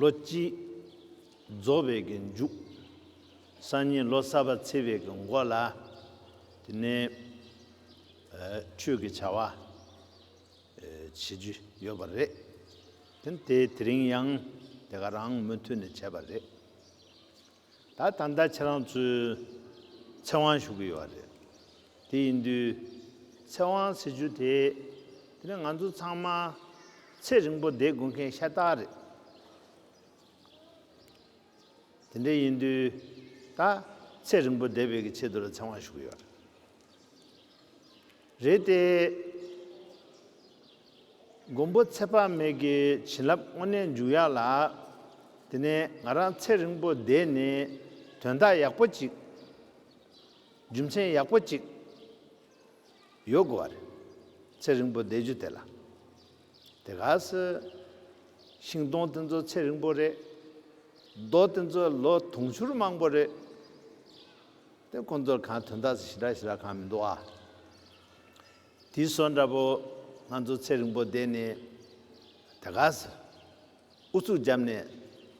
ལོ་གཅིག། རྫོགས་པའི་གི་མཇུག། སང་ཉིན་ལོ་གསར་པ་ཚེས་པའི་གི་མགོ་ལ། དེ་ནས། ཆོས་ཀྱི་བྱ་བ། བྱེད་རྒྱུ་ཡོད་པ་རེད། དེ་ནི་དེ་དེ་རིང་ཡང་དེ་ག་རང་མུ་མཐུད་ནས་བྱས་པ་རེད། ད་ད་ལྟ་ཁྱེད་རང་ཚོའི་ཚེ་དབང་ཞུ་གི་ཡོད་རེད། དེ་ཡིན་དུས། ཚེ་དབང་ཟེར་རྒྱུ་དེ། དེ་ནི་ང་ཚོ་ཚང་མ་ཚེ་རིང་པོ་བསྡད་དགོས་མཁན་ཤ་སྟག་རེད། དེ་འདྲ་ཡིན་དུས། ད་ཚེ་རིང་པོ་བསྡད་པའི་གི་ཆེད་དུ་ལ་ཚེ་དབང་ཞུ་གི་ཡོད་རེད། རེད་དེ། མགོན་པོ་ཚེ་དཔག་མེད་ཀྱི་བྱིན་རླབས་དངོས་གནས་འཇུག་ཡག་ལ། དེ་ནས་ང་རང་ཚེ་རིང་པོ་བསྡད་ནས་དོན་དག་ཡག་པོ་གཅིག། རྒྱུ་མཚན་ཡག་པོ་གཅིག། ཡོད་དགོས་བ་རེད། ཚེ་རིང་པོ་བསྡད་རྒྱུ་དེ་ལ། དེ་ག་སི། ཤིང་སྡོང་དེ་ཚོ་ཚེ་རིང་པོ་རེད། རྡོ་དེ་ཚོ་ལོ་དུང་ཕྱུར་མང་པོ་རེད། དེ་ཀུན་རྫོབ་གང་དོན་དག་ཞི་དྲག་ཞི་དྲག་གང་མི་འདུག་ཨ། དེའི་བཟོ་འདྲ་པོ། ང་ཚོ་ཚེ་རིང་པོ་བསྡད་ནས། དེ་ག་ཟེར། ཨུ་ཚུགས་བརྒྱབ་ནས།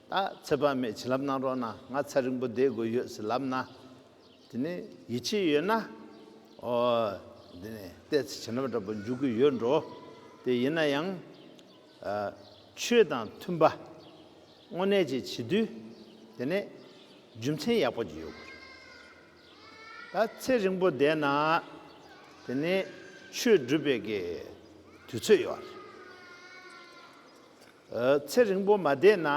ད་ཚེ་དཔག་མེད་བྱིན་རླབས་གནང་རོགས་གནང་ང་ཚ་རིང་པོ་བསྡད་དགོས་ཡོད་ཟེར་ལབ་ན། དེ་ནས་ཡིད་ཆེས་ཡོད་ན། ཨོ། དེ་ནས་བལྟས་ཚེ་བྱིན་རླབས་འདྲ་པོ་འཇུག་གི་ཡོད་འགྲོ། དེ་ཡིན་ན་ཡང། ཆོས་དང་མཐུན་པ་དངོས་གནས་བྱེད་བྱེད་དུས་དེ་ནས་རྒྱུ་མཚན་ཡག་པོ་ཡོད་དགོས་རེད། ད་ཚེ་རིང་པོ་བསྡད་ན་དེ་ནས་ཆོས་སྒྲུབ་པའི་གི་དུས་ཚོད་ཡོད་རེད། ཚེ་རིང་པོ་མ་བསྡད་ན་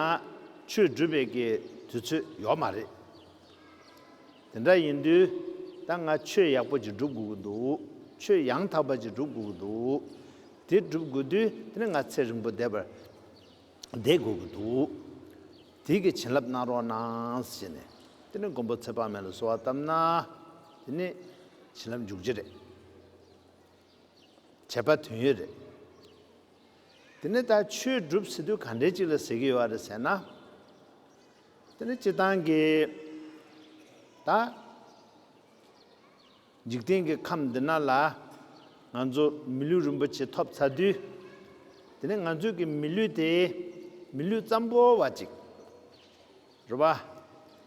ཆོས་སྒྲུབ་པའི་གི་དུས་ཚོད་ཡོད་མ་རེད། དེ་འདྲ་ཡིན་དུས་ད་ང་ཆོས་ཡག་པོ་ཅིག་སྒྲུབ་དགོས་ཀྱི་འདུག་ཆོས་ཡང་དག་པ་ཅིག་སྒྲུབ་དགོས་ཀྱི་འདུག། དེ་བསྒྲུབ་དགོས་དུས་དེ་ནི་ང་ཚེ་རིང་པོ་བསྡད་པར་བསྡད་དགོས་ཀྱི་འདུག་དེའི་གི་བྱིན་རླབས་གནང་རོགས་གནང་ཞེས་ནས་དེ་ནི་མགོན་པོ་ཚེ་དཔག་མེད་ལ་གསོལ་བ་བཏབ་ན་དེ་ནི་བྱིན་རླབས་འཇུག་རྒྱུ་རེད། བྱས་པ་དོན་ཡོད་རེད། དེ་ནི་ད་ཆོས་བསྒྲུབ་ཟེར་དུས་ག་འདྲའི་ཅིག་ལ་ཟེར་གྱི་ཡོད་རེད་ཟེར་ན། དེ་ནི་སྤྱིར་བཏང་གི་ད། འཇིག་རྟེན་གྱི་ཁམས་འདི་ན་ལ། ང་ཚོ་མི་ལུས་རིན་པོ་ཆེ་ཐོབ་ཚར་དུས། དེ་ནས་ང་ཚོས་ཀྱི་མི་ལུས་དེ། མི་ལུས་ཙམ་པོ་བ་ཅིག་རེད་པ།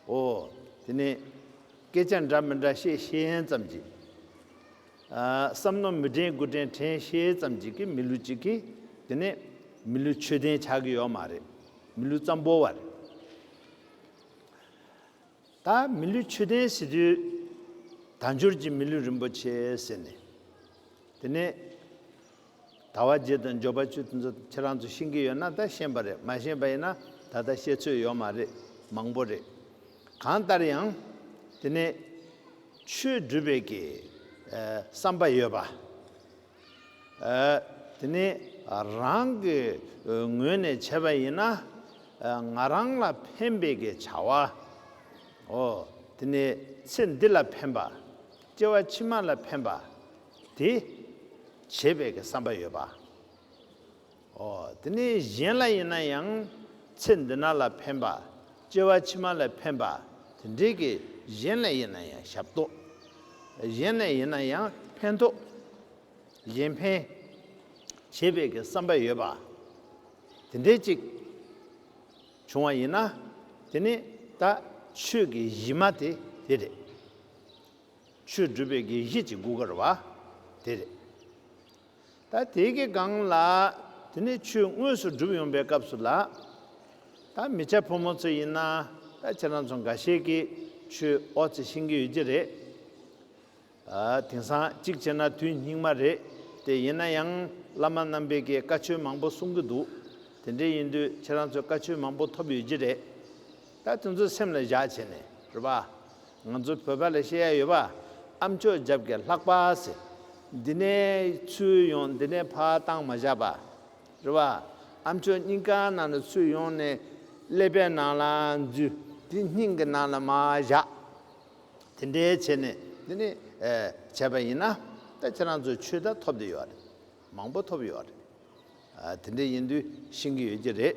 འོ། དེ་ནས། སྐད་ཆ་འདྲ་མི་འདྲ་བཤད་ཤེས་ཙམ་གྱིས། བསམ་མནོ་མི་དྲན་དགུ་དྲན་དྲན་ཤེས་ཙམ་གྱིས་ཀྱི་མི་ལུས་ཅིག་གིས། དེ་ནས། མི་ལུས་ཆོས་ལྡན་ཆགས་ཀྱི་ཡོད་མ་རེད། མི་ལུས་ཙམ་པོ་བ་རེད། ད་མི་ལུས་ཆུ་ལྡན་བྱེད་དུས། ད་འབྱོར་གྱི་མི་ལུས་རིན་པོ་ཆེ་ཟེར་ནས། དེ་ནས། ད་བ་རྗེ་དང་འབྱོར་པ་བཅུ་དེ་ཚོ་ཁྱེད་རང་ཚོ་ཤེས་ཀྱི་ཡོད་ན་ད་ཤེས་པ་རེད་མ་ཤེས་པ་ཡིན་ན་ད་ལྟ་ཤེས་ཚོད་ཡོད་མ་རེད་མང་པོ་རེད། གང་ལྟར་ཡང། དེ་ནས། ཆོས་སྒྲུབ་པའི་གི། བསམ་པ་ཡོད་པ། དེ་ནི་རང་གི་ངོས་ནས་བྱས་པ་ཡིན་ན། ང་རང་ལ་ཕན་པའི་གི་བྱ་བའོ། དེ་ནི་ཚེ་འདི་ལ་ཕན་པ། སྐྱེ་བ་ཕྱི་མ་ལ་ཕན་པ། དེ་བྱེད་པའི་གི་བསམ་པ་ཡོད་པ། དེ་ནས་གཞན་ལ་ཡིན་ན་ཡང་ཚེ་འདི་ན་ལ་ཕན་པ། སྐྱེ་བ་ཕྱི་མ་ལ་ཕན་པ་དེ་འདྲའི་གིས་གཞན་ལ་ཡིན་ན་ཡང་ཞབས་ཏོག། གཞན་ལ་ཡིན་ན་ཡང་ཕན་ཐོགས། གཞན་ཕན། བྱེད་པའི་གི་བསམ་པ་ཡོད་པ། དེ་འདྲའི་ཅིག། བྱུང་བ་ཡིན་ན། དེ་ནི་ད་ཆོས་ཀྱི་གཞི་མ་དེ་དེ་རེད། ཆོས་སྒྲུབ་པའི་གི་གཞི་ཅིག་དགུ་དཀར་བ་དེ་རེད། ད་དེ་གི་སྒང་ལ། དེ་ནས་ཆུ་དངོས་སུ་འགྲུབ་ཡོང་པའི་སྐབས་སུ་ལ། ད་མི་བྱ་ཕོ་མོ་ཚོ་ཡིན་ན། ད་ཁྱེད་རང་ཚོ་འགའ་ཤས་ཀྱིས་ཆུ་ཨོ་ཚེ་ཤིང་གི་ཡོད་ཀྱི་རེད། དེང་སང་གཅིག་བྱས་ན་དུས་སྙིགས་མ་རེད་དེ། ཡིན་ན་ཡང་བླ་མ་རྣམ་པས་ཀྱིས་བཀའ་ཆོས་མང་པོ་གསུང་གི་འདུག་དེ་འདྲའི་ཡིན་དུས་ཁྱེད་རང་ཚོས་བཀའ་ཆོས་མང་པོ་ཐོབ་ཡོད་ཀྱི་རེད། ད་དེ་ཚོ་སེམས་ལ་བཞག་བྱས་ནས་རེད་པ། ང་ཚོ་བོད་པ་ལ་བཤད་ཡ་ཡོད་པ། ཨ་མཆོག་འཇབ་རྒྱ་ལྷག་པ་ཟེར། འདི་ནས་ཚུར་ཡོང་འདི་ནས་ཕར་བཏང་མ་བཞག་པ། རེད་པ། ཨ་མཆོག་སྙིང་ཁ་ནང་ལ་ཚུར་ཡོང་ནས་ཀླད་པའི་ནང་ལ་འཛུལ། དེ་སྙིང་གི་ནང་ལ་མ་བཞག། དེ་འདྲའི་བྱས་ནས་འདི་ནས་བྱས་པ་ཡིན་ན། ད་ཁྱེད་རང་ཚོ་ཆོས་དར་ཐོབ་འདི་ཡོད་རེད། མང་པོ་ཐོབ་ཡོད་རེད། དེ་འདྲ་ཡིན་དུས་ཤེས་ཀྱི་ཡོད་ཀྱི་རེད།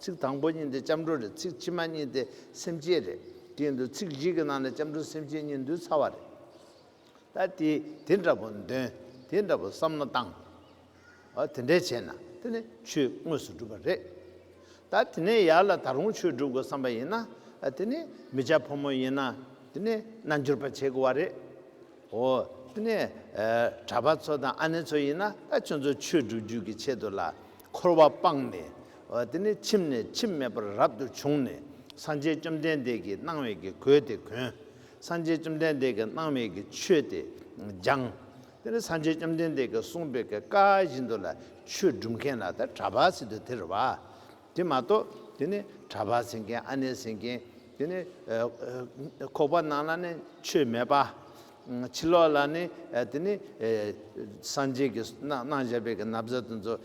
ཚིག་དང་པོ་གཉིས་དེ་སྐྱབས་འགྲོ་རེད་ཚིག་ཕྱི་མ་གཉིས་དེ་སེམས་བསྐྱེད་རེད་དེའི་འདུག་ཚིག་བཞི་གི་ནང་ལ་སྐྱབས་འགྲོ་སེམས་བསྐྱེད་གཉིས་འདུས་ཚར་བ་རེད། ད་དེ་དེ་འདྲ་པོ་འདོན་དེ་འདྲ་པོ་བསམ་བློ་བཏང། ཨོ་དེ་འདྲས་བྱས་ན་དེ་ནི་ཆོས་དངོས་སུ་འགྲུབ་པ་རེད། ད་དེ་ནས་ཡར་ལ་ད་རུང་ཆོས་སྒྲུབ་དགོས་བསམ་པ་ཡིན་ན་དེ་ནི་མི་ཅག་ཕོ་མོ་ཡིན་ན་དེ་ནི་རྣལ་འབྱོར་པ་བྱེད་དགོས་བ་རེད། ཨོ་དེ་ནས་གྲྭ་པ་ཚོ་དང་ཨ་ནེ་ཚོ་ཡིན་ན་ད་ཁྱོད་ཚོ་ཆོས་སྒྲུབ་རྒྱུད་ཀྱི་ཆེད་དུ་ལ་འཁོར་བ་སྤངས་ནས། དེ་ནས་ཁྱིམ་ནས་ཁྱིམ་མེད་པར་རབ་ཏུ་བྱུང་ནས་སངས་རྒྱས་བཅོམ་ལྡན་འདས་ཀྱི་སྣང་བས་ཀྱི་གོས་དེ་གོན། སངས་རྒྱས་བཅོམ་ལྡན་འདས་ཀྱི་སྣང་བས་ཀྱི་ཆོས་དེ་སྦྱངས། དེ་ནས་སངས་རྒྱས་བཅོམ་ལྡན་འདས་ཀྱི་གསུངས་པའི་ཀྱི་བཀའ་བཞིན་དུ་ལ་ཆོས་སྒྲུབ་མཁན་ལ་དེ་གྲྭ་པ་སྲིད་དུ་དེར་བ། དེ་མ་གཏོགས་དེ་ནི་གྲྭ་པ་ཟིན་མཁན་ཨ་ནེ་ཟིན་མཁན་དེ་ནི། ཁོག་པ་ནང་ན་ནི་ཆོས་མེད་པ། ཕྱི་ལོགས་ལ་ནི་དེ་ནི། སངས་རྒྱས་ཀྱི་སྣང་བཞག་པའི་གི་ན་བཟའ་དང་ཚོ།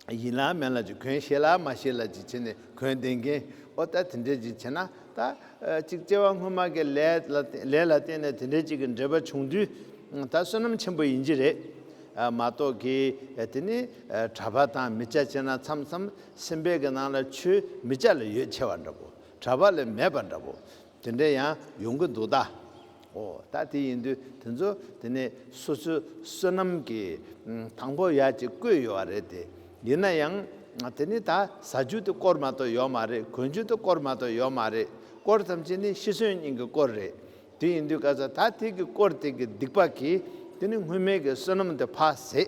ཡིན་ལ་མིན་ལ་ཅིག་གོན་ཤེས་ལ་མ་ཤེས་ལ་ཅིག་བྱས་ནས་གོན་བསྟན་མཁན། ཨོ་ད་དེ་འདྲས་ཅིག་བྱས་ན་ད། ཅིག་སྐྱེ་བ་སྔོན་མ་གི་ལས་ལས་ལ་བརྟེན་ནས་དེ་འདྲས་ཅིག་གི་འབྲེལ་པ་བྱུང་དུས། ད་བསོད་ནམས་ཆེན་པོ་ཡིན་གྱི་རེད། མ་གཏོགས་ཀི་དེ་ནི། གྲྭ་པ་དང་མི་བྱ་བྱས་ན་མཚམས་མཚམས་སེམས་པའི་གི་ནང་ལ་ཆུ་མི་བྱ་ལ་ཡོད་ཆེ་བ་འདྲ་པོ། གྲྭ་པ་ལས་མེད་པ་འདྲ་པོ། དེ་འདྲ་ཡང་ཡོང་གི་འདུག་ད། ཨོ་ད་དེ་ཡིན་དུས་དེ་ཚོ་དེ་ནས་སོ་སོའི་བསོད་ནམས་ཀྱི་དང་པོ་ཡག་ཅིག་བཀོད་ཡོད་བ་རེད་དེ། ཡིན་ན་ཡང་དེ་ནི་ད་ཟ་རྒྱུ་དེ་སྐོར་མ་གཏོགས་ཡོད་མ་རེད་གོན་རྒྱུ་དེ་སྐོར་མ་གཏོགས་ཡོད་མ་རེད་སྐོར་ཐམས་ཅད་ནི་ཤི་གསོན་གཉིས་ཀྱི་སྐོར་རེད། དེ་ཡིན་དུས་སྐལ་བཟང་ད་ཐེག་གི་སྐོར་ཐེག་གི་སྡིག་པ་གིས་དེ་ནི་སྔོན་མེད་ཀྱི་བསོད་ནམས་དེ་འཕགས་ཟེ།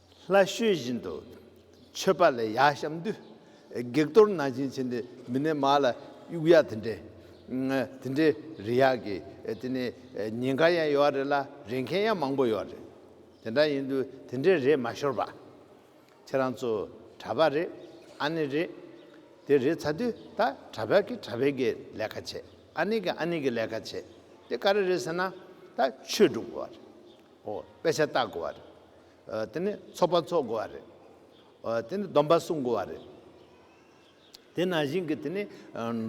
ལྷ་བཤོས་བཞིན་དུ་མཆོད་པ་ལས་ཡར་བཤམས་དུས། བགེགས་གཏོར་ནང་བཞིན་བྱིན་ཏེ་མི་ནད་མ་ལ་དབྱུག་ཡ་དེ་འདྲས། དེ་འདྲས་རེད་ཡག་གི་དེ་ནས་ཉེན་ཁ་ཡང་ཡོད་རེད་ལ་རེད་མཁན་ཡང་མང་པོ་ཡོད་རེད། དེ་འདྲ་ཡིན་དུས་དེ་འདྲས་རེད་མ་ཤོར་བ། ཁྱེད་རང་ཚོ་གྲྭ་པ་རེད་ཨ་ནེ་རེད། དེ་རེད་ཚ་དུས་ད་གྲྭ་པ་གི་གྲྭ་པའི་གི་ལས་ཀ་བྱེད་ཨ་ནེ་གི་ཨ་ནེ་གི་ལས་ཀ་བྱེད་དེ་ག་རེ་རེད་ཟེར་ན་ད་ཆོས་སྒྲུབ་དགོས་བ་རེད་དཔེ་ཆ་བལྟ་དགོས་བ་རེད། དེ་ནས་ཚོགས་པ་འཚོགས་དགོས་བ་རེད། དེ་ནས་སྡོམ་པ་བསྲུང་དགོས་བ་རེད། དེ་ནང་བཞིན་གྱི་དེ་ནི་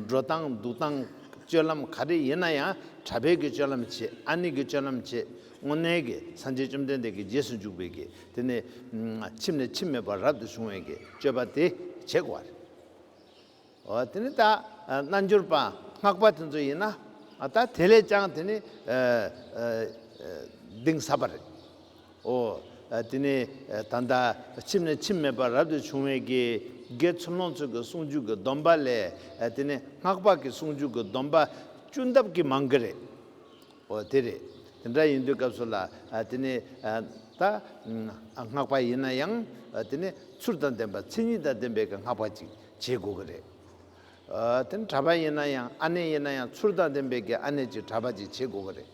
འགྲོ་སྟངས་འདུག་སྟངས་སྤྱོད་ལམ་ག་རེ་ཡིན་ན་ཡང་གྲྭ་ཕལ་གྱི་སྤྱོད་ལམ་བྱེད་ཨ་ནི་གྱི་སྤྱོད་ལམ་བྱེད་དངོས་གནས་ཀྱི་སངས་རྒྱས་བཅོམ་ལྡན་འདས་ཀྱི་རྗེས་སུ་འཇུག་པའི་གྱི་དེ་ནི་ཁྱིམ་ནས་ཁྱིམ་མེད་པར་རབ་ཏུ་བྱུང་བའི་གྱི་སྤྱོད་པ་དེ་བྱེད་དགོས་བ་རེད། དེ་ནི་ད་རྣལ་འབྱོར་པ་སྔགས་པ་དེ་ཚོ་ཡིན་ན་ད་དེ་ལས་ཀྱང་དེ་ནི་གདིང་ཟབ་པ་རེད། ཨོ། དེ་ནི་ད་ལྟ་ཁྱིམ་ནས་ཁྱིམ་མེད་པར་རབ་ཏུ་བྱུང་བའི་དགེ་དགེ་ཚོམ་ལོངས་སྤྱོད་ཀྱི་གསུང་རྒྱུད་ཀྱི་སྡོམ་པ་ལས་དེ་ནི་སྔགས་པ་ཀྱི་གསུང་རྒྱུད་ཀྱི་སྡོམ་པ་བཅུ་འདབ་ཀྱི་མང་གི་རེད། འོ་དེ་རེད། དེ་འདྲ་ཡིན་དུས་སྐབས་སུ་ལ་དེ་ནི་ད་སྔགས་པ་ཡིན་ན་ཡང་དེ་ནི་ཚུར་དང་ལྡན་པ་མཚན་ཉིད་དང་ལྡན་པའི་གི་སྔགས་པ་ཅིག་བྱེད་དགོས་ཀྱི་རེད། དེ་ནི་གྲྭ་པ་ཡིན་ན་ཡང་ཨ་ནེ་ཡིན་ན་ཡང་ཚུར་དང་ལྡན་པའི་གི་ཨ་ནེ་ཅིག་གྲྭ་པ་ཅིག་བྱེད་དགོས་ཀྱི་རེད།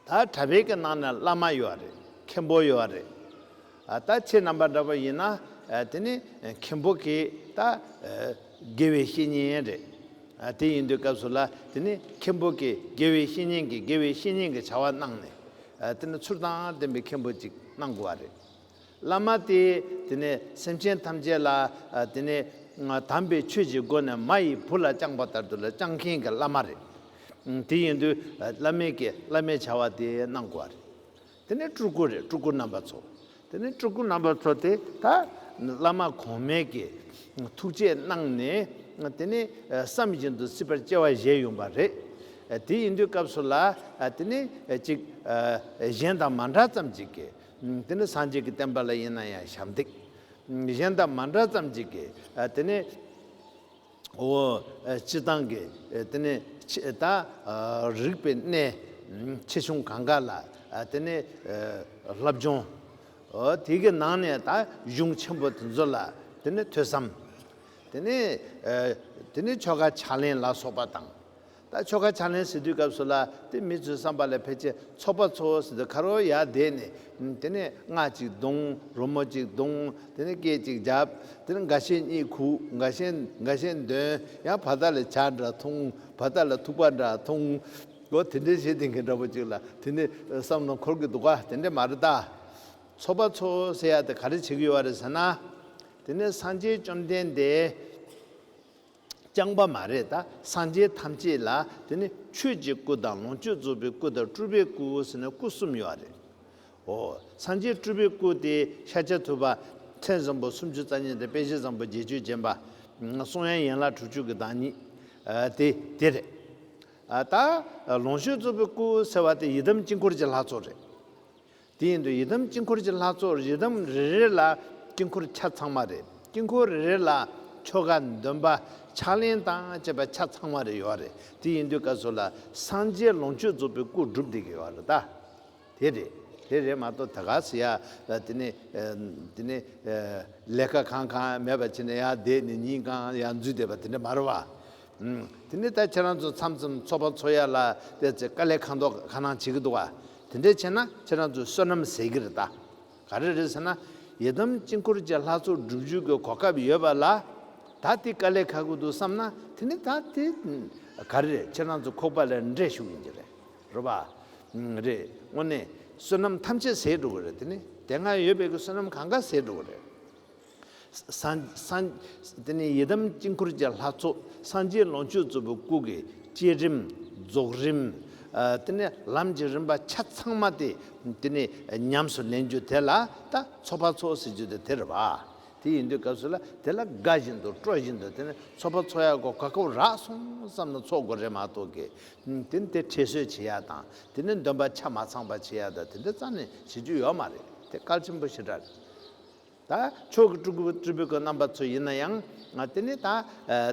ད་གྲྭ་པའི་གི་ནང་ན་བླ་མ་ཡོད་རེད་མཁན་པོ་ཡོད་རེད། ད་ཁྱེད་རྣམ་པ་འདྲ་པོ་ཡིན་ན་དེ་ནི་མཁན་པོ་གིས་ད་དགེ་བའི་བཤེས་གཉེན་རེད། དེ་ཡིན་དུས་སྐབས་སུ་ལ་དེ་ནི་མཁན་པོ་གིས་དགེ་བའི་བཤེས་གཉེན་གྱིས་དགེ་བའི་བཤེས་གཉེན་གྱི་བྱ་བ་གནང་ནས་དེ་ནི་ཚུར་དང་ལྡན་པའི་མཁན་པོ་ཅིག་གནང་དགོས་བ་རེད། བླ་མ་དེས་དེ་ནི་སེམས་ཅན་ཐམས་ཅད་ལ་དེ་ནི་དམ་པའི་ཆོས་ཀྱི་སྒོ་ནས་མ་ཡི་བུ་ལ་བཅངས་པ་ལྟར་དུ་ལ་བཅངས་མཁན་གྱི་བླ་མ་རེད། དེ་ཡིན་དུས་བླ་མེད་ཀྱིས་བླ་མའི་བྱ་བ་དེ་གནང་དགོས་བ་རེད། དེ་ནས་སྤྲུལ་སྐུ་རེད་སྤྲུལ་སྐུ་རྣམ་པ་ཚོ། དེ་ནས་སྤྲུལ་སྐུ་རྣམ་པ་ཚོ་དེ་དག་བླ་མ་གོང་མས་ཀྱི་ཐུགས་རྗེས་གནང་ནས་དེ་ནས་བསམ་བཞིན་དུ་སྲིད་པར་སྐྱེ་བ་བཞེས་ཡོང་བ་རེད། དེ་ཡིན་དུས་སྐབས་སུ་ལ་དེ་ནས་ཅིག་གཞན་དང་མ་འདྲ་ཙམ་ཅིག་གི་དེ་ནས་སངས་རྒྱས་ཀྱི་བསྟན་པ་ལ་ཡིན་ན་ཡང་ཞབས་འདེགས་གཞན་དང་མ་འདྲ་ཙམ་ཅིག་གི་དེ་ནས། འོ། སྤྱི་བཏང་གི་དེ་ནི་ད། རིགས་པའི་གནས། ཆེ་ཆུང་གང་ག་ལ་དེ་ནི། ལྷ་བྱུང། འོ་དེ་གི་ནང་ནས་ད་གཞུང་ཆེན་པོ་དེ་ཚོ་ལ་དེ་ནི་ཐོས་བསམ། དེ་ནི། དེ་ནི་ཆོ་ག་ཕྱག་ལེན་ལ་སོགས་པ་དང། ད་ཆོ་ག་ཕྱག་ལེན་ཟེར་དུས་སྐབས་སུ་ལ་དེ་མི་ཚོའི་བསམ་པ་ལ་ཕལ་ཆེར་ཚོགས་པ་ཚོ་ཟེར་དུས་ཁ་རོག་ཡར་བསྡད་ནས་དེ་ནས་སྔགས་གཅིག་བརྡུང་རོལ་མོ་གཅིག་བརྡུང་དེ་ནས་སྐད་ཅིག་བརྒྱབ་དེ་ནས་འགའ་ཤས་གཉིད་ཁུག་འགའ་ཤས་འགའ་ཤས་འདོན་ཡང་བར་ཐག་ལ་བྱ་འདྲ་འཐུང་བར་ཐག་ལ་ཐུག་པ་འདྲ་འཐུང། ལོ་དེ་འདྲའི་བྱེད་དེ་མཁན་འདྲ་པོ་གཅིག་ལ་དེ་ནས་བསམ་བློ་འཁོར་གི་འདུག་ག་དེ་འདྲས་མ་རེད་ད། ཚོགས་པ་ཚོ་ཟེར་ཡ་དེ་ག་རེ་བྱེད་ཀྱི་ཡོད་རེད་ཟེར་ན། དེ་ནས་སངས་རྒྱས་བཅོམ་ལྡན་འདས། རྐྱང་པ་མ་རེད་ད་སངས་རྒྱས་ཐམས་ཅད་ལ་དེ་ནི་ཆོས་ཀྱི་སྐུ་དང་ལོངས་སྤྱོད་རྫོགས་པའི་སྐུ་དང་སྤྲུལ་པའི་སྐུ་ཟེར་ན་སྐུ་གསུམ་ཡོད་རེད་ཨོ། སངས་རྒྱས་སྤྲུལ་པའི་སྐུ་དེ་ཤ་ཆ་ཐུབ་པ། མཚན་བཟང་པོ་སུམ་ཅུ་རྩ་གཉིས་དང་དཔེ་བཞི་བཟང་པོ་བརྒྱད་ཅུ་བརྒྱན་པ། གསུང་དབྱངས་ཡན་ལག་དྲུག་ཅུ་གི་བདག་ཉིད་དེ་དེ་རེད་ད། ལོངས་སྤྱོད་རྫོགས་པའི་སྐུ་ཟེར་བ་དེ་ཡི་དམ་དཀྱིལ་འཁོར་གྱི་ལྷ་ཚོགས་རེད། དེ་བཞིན་དུ་ཡི་དམ་དཀྱིལ་འཁོར་གྱི་ལྷ་ཚོགས་ཡི་དམ་རེ་རེ་ལ་དཀྱིལ་འཁོར་ཆ་ཚང་མ་རེ་དཀྱིལ་འཁོར་རེ་རེ་ལ་ཆོ་ག་འདོན་པ་ཕྱག་ལེན་དང་བཅས་པ་ཆ་ཚང་མ་རེ་ཡོད་རེད་དེ་ཡིན་དུས་སྐབས་སོགས་ལ་སངས་རྒྱས་ལོངས་སྤྱོད་རྫོགས་པའི་སྐུ་སྒྲུབ་བསྡད་ཀྱི་ཡོད་རེད་ད། དེ་རེད་དེ་རེད་མ་གཏོགས་ད་ག་ཟེ་ཡ་དེ་ནས་དེ་ནས་ལས་ཀ་གང་གང་མེད་པ་བྱས་ནས་ཡ་བསྡད་ནས་ཉིན་གང་ཡ་འཛུལ་བསྡད་པ་དེ་འདྲ་མ་རེད་བ། དེ་ནས་ད་ཁྱེད་རང་ཚོ་མཚམས་མཚམས་འཚོ་བ་འཚོ་ཡ་ལ་དེ་ཚེ་དཀའ་ལས་ཁ་མདོག་ག་ནང་བྱེད་ཀྱི་འདུག་དེ་འདྲས་བྱས་ན་ཁྱེད་རང་ཚོའི་བསོད་ནམས་ཟད་ཀྱི་རེད་ད། ག་རེ་རེད་ཟེར་ན། ཡི་དམ་དཀྱིལ་འཁོར་གྱི་ལྷ་ཚོགས་སྒྲུབ་བརྒྱུད་ཀྱི་གོ་སྐབས་ཡོད་པ་ལ། ད་དེ་དཀའ་ལས་ཁག་གི་འདུག་བསམ་ན་དེ་ནས་ད་དེ། ག་རེ་རེད་ཁྱེད་རང་ཚོ་ཁོག་པ་ལ་འདྲེ་ཞུགས་ཡིན་གྱི་རེད། རོ་པ། རེད་དངོས་གནས་བསོད་ནམས་ཐམས་ཅད་ཟད་འགྲོ་གི་རེད་དེ་ནས་དེ་སྔ་ཡོད་པའི་གི་བསོད་ནམས་གང་ག་ཟད་འགྲོ་གི་རེད། དེ་ནས་ཡི་དམ་དཀྱིལ་འཁོར་གྱི་ལྷ་ཚོགས་སངས་རྒྱས་ལོངས་སྤྱོད་རྫོགས་པའི་སྐུ་གི་བསྐྱེད་རིམ་རྫོགས་རིམ། དེ་ནས་ལམ་གྱི་རིམ་པ་ཆ་ཚང་མ་སྟེ་དེ་ནས་ཉམས་སུ་ལེན་རྒྱུ་དེ་ལ་ད་ཚོགས་པ་ཚོགས་ཟེར་རྒྱུ་དེ་དེར་བ། དེ་ཡིན་དུས་སྐབས་སུ་ལ་དེ་ལ་དགའ་བཞིན་དུ་སྤྲོ་བཞིན་དུ་དེ་ནས་ཚོགས་པ་ཚོགས་ཡ་གོ་ག་ཁོ་ར་སོང་ཙམ་ན་ཚོགས་དགོས་རེད་མ་གཏོགས་ཀི། དེ་ནི་དེ་ཁྲེལ་སོད་བྱེད་ཡ་དང་དེ་ནས་འདོན་པ་ཆ་མ་ཚང་པ་བྱེད་ཡ་དང་དེ་འདྲ་རྩ་ནས་བྱེད་རྒྱུ་ཡོད་མ་རེད་དེ་སྐལ་ཆེན་པོ་ཞེ་དྲག་རེད། ད་ཆོག་གི་སྤྲུལ་སྐུ་སྤྲུལ་པའི་རྣམ་པ་ཚོ་ཡིན་ན་ཡང་དེ་ནི་ད་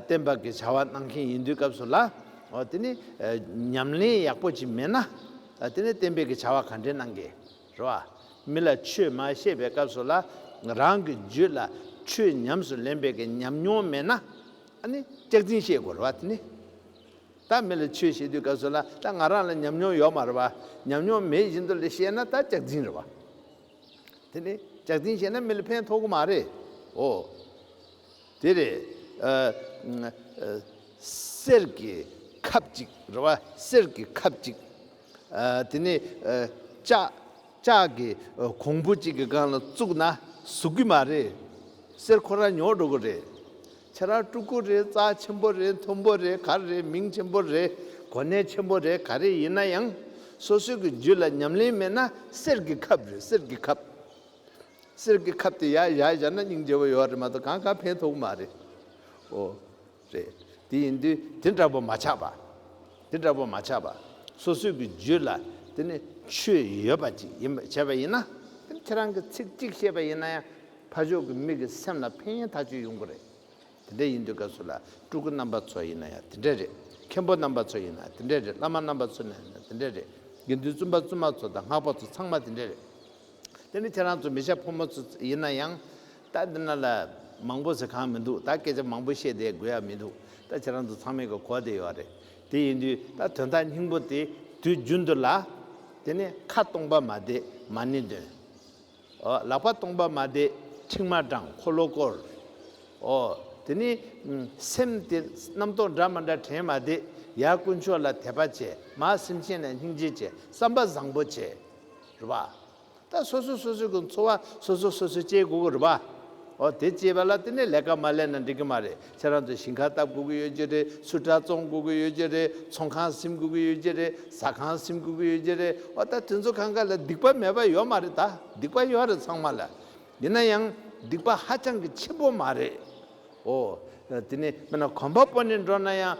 བསྟན་པ་གི་བྱ་བ་གནང་མཁན་ཡིན་དུས་སྐབས་སུ་ལ་དེ་ནི་ཉམས་ལེན་ཡག་པོ་ཅིག་མེད་ན་དེ་ནི་བསྟན་པའི་གི་བྱ་བ་ག་འདྲའི་གནང་གི་རེད་བ། མི་ལ་ཆོས་མ་བཤད་པའི་སྐབས་སུ་ལ་རང་གི་རྒྱུད་ལ་ཆོས་ཉམས་སུ་ལེན་པའི་གི་ཉམས་མྱོང་མེད་ན་ནི་སྐྱག་རྫིང་བཤད་དགོས་རེད་བ་དེ་ནི་ད་མི་ལ་ཆོས་བཤད་དུས་སྐབས་སུ་ལ་ད་ང་རང་ལ་ཉམས་མྱོང་ཡོད་མ་རེད་བ་ཉམས་མྱོང་མེད་བཞིན་དུ་ལ་བཤད་ན་ད་སྐྱག་རྫིང་རེད་བ། དེ་ནི་ལྕག་རྫིང་བཞེས་ན་མི་ལ་ཕན་ཐོག་གི་མ་རེད། ཨོ། དེ་རེད། གསེར་གྱི་ཁབ་གཅིག་རེད་བ། གསེར་གྱི་ཁབ་གཅིག། དེ་ནི་ལྕགས། ལྕགས་ཀྱི་གོང་བུ་གཅིག་གི་སྒང་ལ་བཙུགས་ན་ཟུག་གི་མ་རེད། གསེར་ཁོ་རང་ཉོ་འགྲོ་གི་རེད། ཁྱེད་རང་སྤྲུལ་སྐུ་རེད་རྩ་ཆེན་པོ་རེད་མཐོན་པོ་རེད་ག་རེ་རེད་མིང་ཆེན་པོ་རེད་གོ་གནས་ཆེན་པོ་རེད་ག་རེ་ཡིན་ན་ཡང། སོ་སོའི་གི་རྒྱུད་ལ་ཉམས་ལེན་མེད་ན་གསེར་གི་ཁབ་རེད་གསེར་གི་ཁབ། གསེར་གི་ཁབ་དེ་ཡར་བཞག་བཞག་ན་སྙིང་རྗེ་བོ་ཡོད་རེད་མ་གཏོགས་གང་གང་ཕན་ཐོག་གི་མ་རེད། ཨོ། རེད་དེ་ཡིན་དུས་དེ་འདྲ་པོ་མ་ཆགས་པ། དེ་འདྲ་པོ་མ་ཆགས་པ། སོ་སོའི་གི་རྒྱུད་ལ་དེ་ནི་ཆོས་ཡོད་པ་ཅིག་ཡིན་པ་བྱས་པ་ཡིན་ན། དེ་ནི་ཁྱེད་རང་གི་ཚིག་གཅིག་བཤད་པ་ཡིན་ན་ཡང། ཕ་ཆོས་ཀྱི་མིག་གིས་སེམས་ལ་ཕན་ཡོན་ཐག་གཅོད་ཡོང་གི་རེད། དེ་འདྲ་ཡིན་དུས་སྐབས་སུ་ལ་སྤྲུལ་སྐུ་རྣམ་པ་ཚོ་ཡིན་ན་ཡང་དེ་འདྲ་རེད། མཁན་པོ་རྣམ་པ་ཚོ་ཡིན་ན་དེ་འདྲ་རེད་བླ་མ་རྣམ་པ་ཚོ་ཡིན་ན་དེ་འདྲ་རེད། དགེ་འདུན་བཙུན་པ་བཙུན་མ་ཚོ་དང་སྔགས་པ་ཚོ་ཚང་མ་དེ་འདྲ་རེད། དེ་ནི་ཁྱེད་རང་ཚོ་མི་ཤ་ཕོ་མོ་ཚོ་ཡིན་ན་ཡང། ད་འདི་ན་ལ་མང་པོ་ཟེར་གང་མི་འདུག་ད་སྐད་ཆ་མང་པོ་བཤད་བསྡད་དགོས་ཡ་མི་འདུག་ད་ཁྱེད་རང་ཚོ་ཚང་མས་གོ་བསྡད་ཡོད་རེད། དེ་ཡིན་དུས་ད་དོན་དག་སྙིང་པོ་དེ་དུས་རྒྱུན་དུ་ལ། དེ་ནི་ཁ་སྟོང་པ་མ་བསྡད་མ་ནི་འདོན། ལག་པ་སྟོང་པ་མ་བཟླས་མཁྲིག་མ་སྦྲང་འཁོར་ལོ་བསྐོར། དེ་ནས་སེམས་དེ་རྣམ་རྟོག་འདྲ་མ་འདྲ་དྲན་མ་བཟླས་ཡར་དཀོན་མཆོག་ལ་དད་པ་བྱས་མ་སེམས་ཅན་ལ་སྙིང་རྗེ་བྱས་བསམ་པ་བཟང་པོ་བྱས། རེད་པ། ད་སོ་སོ་སོ་སོའི་གི་འཚོ་བ་སོ་སོ་སོ་སོས་སྤྱད་དགོས་གི་རེད་པ། དེ་སྤྱད་པ་ལ་དེ་ནས་ལས་ཀ་མ་ལས་ན་འགྲིག་གི་མ་རེད། ཁྱེད་རང་ཚོ་ཞིང་ཁ་བཏབ་དགོས་ཀྱི་ཡོད་ཀྱི་རེད་ཚུར་དྲ་ཙོང་དགོས་ཀྱི་ཡོད་ཀྱི་རེད་ཚོང་ཁང་སིམ་དགོས་ཀྱི་ཡོད་ཀྱི་རེད་ཟ་ཁང་སིམ་དགོས་ཀྱི་ཡོད་ཀྱི་རེད་འོ་ད་དེ་ཚོ་གང་ག་ལ་སྡིག་པ་མེད་པ་ཡོད་མ་རེད་ད་སྡིག་པ་ཡོད་རེད་ཚང་མ་ལ་ཡིན་ན་ཡང་སྡིག་པ་ཧ་ཅང་གི་ཆེན་པོ་མ་རེད་འོ་དེ་ནས་མིན་ན་གོམ་པ་སྤོ་ནས་འགྲོ་ན་ཡང།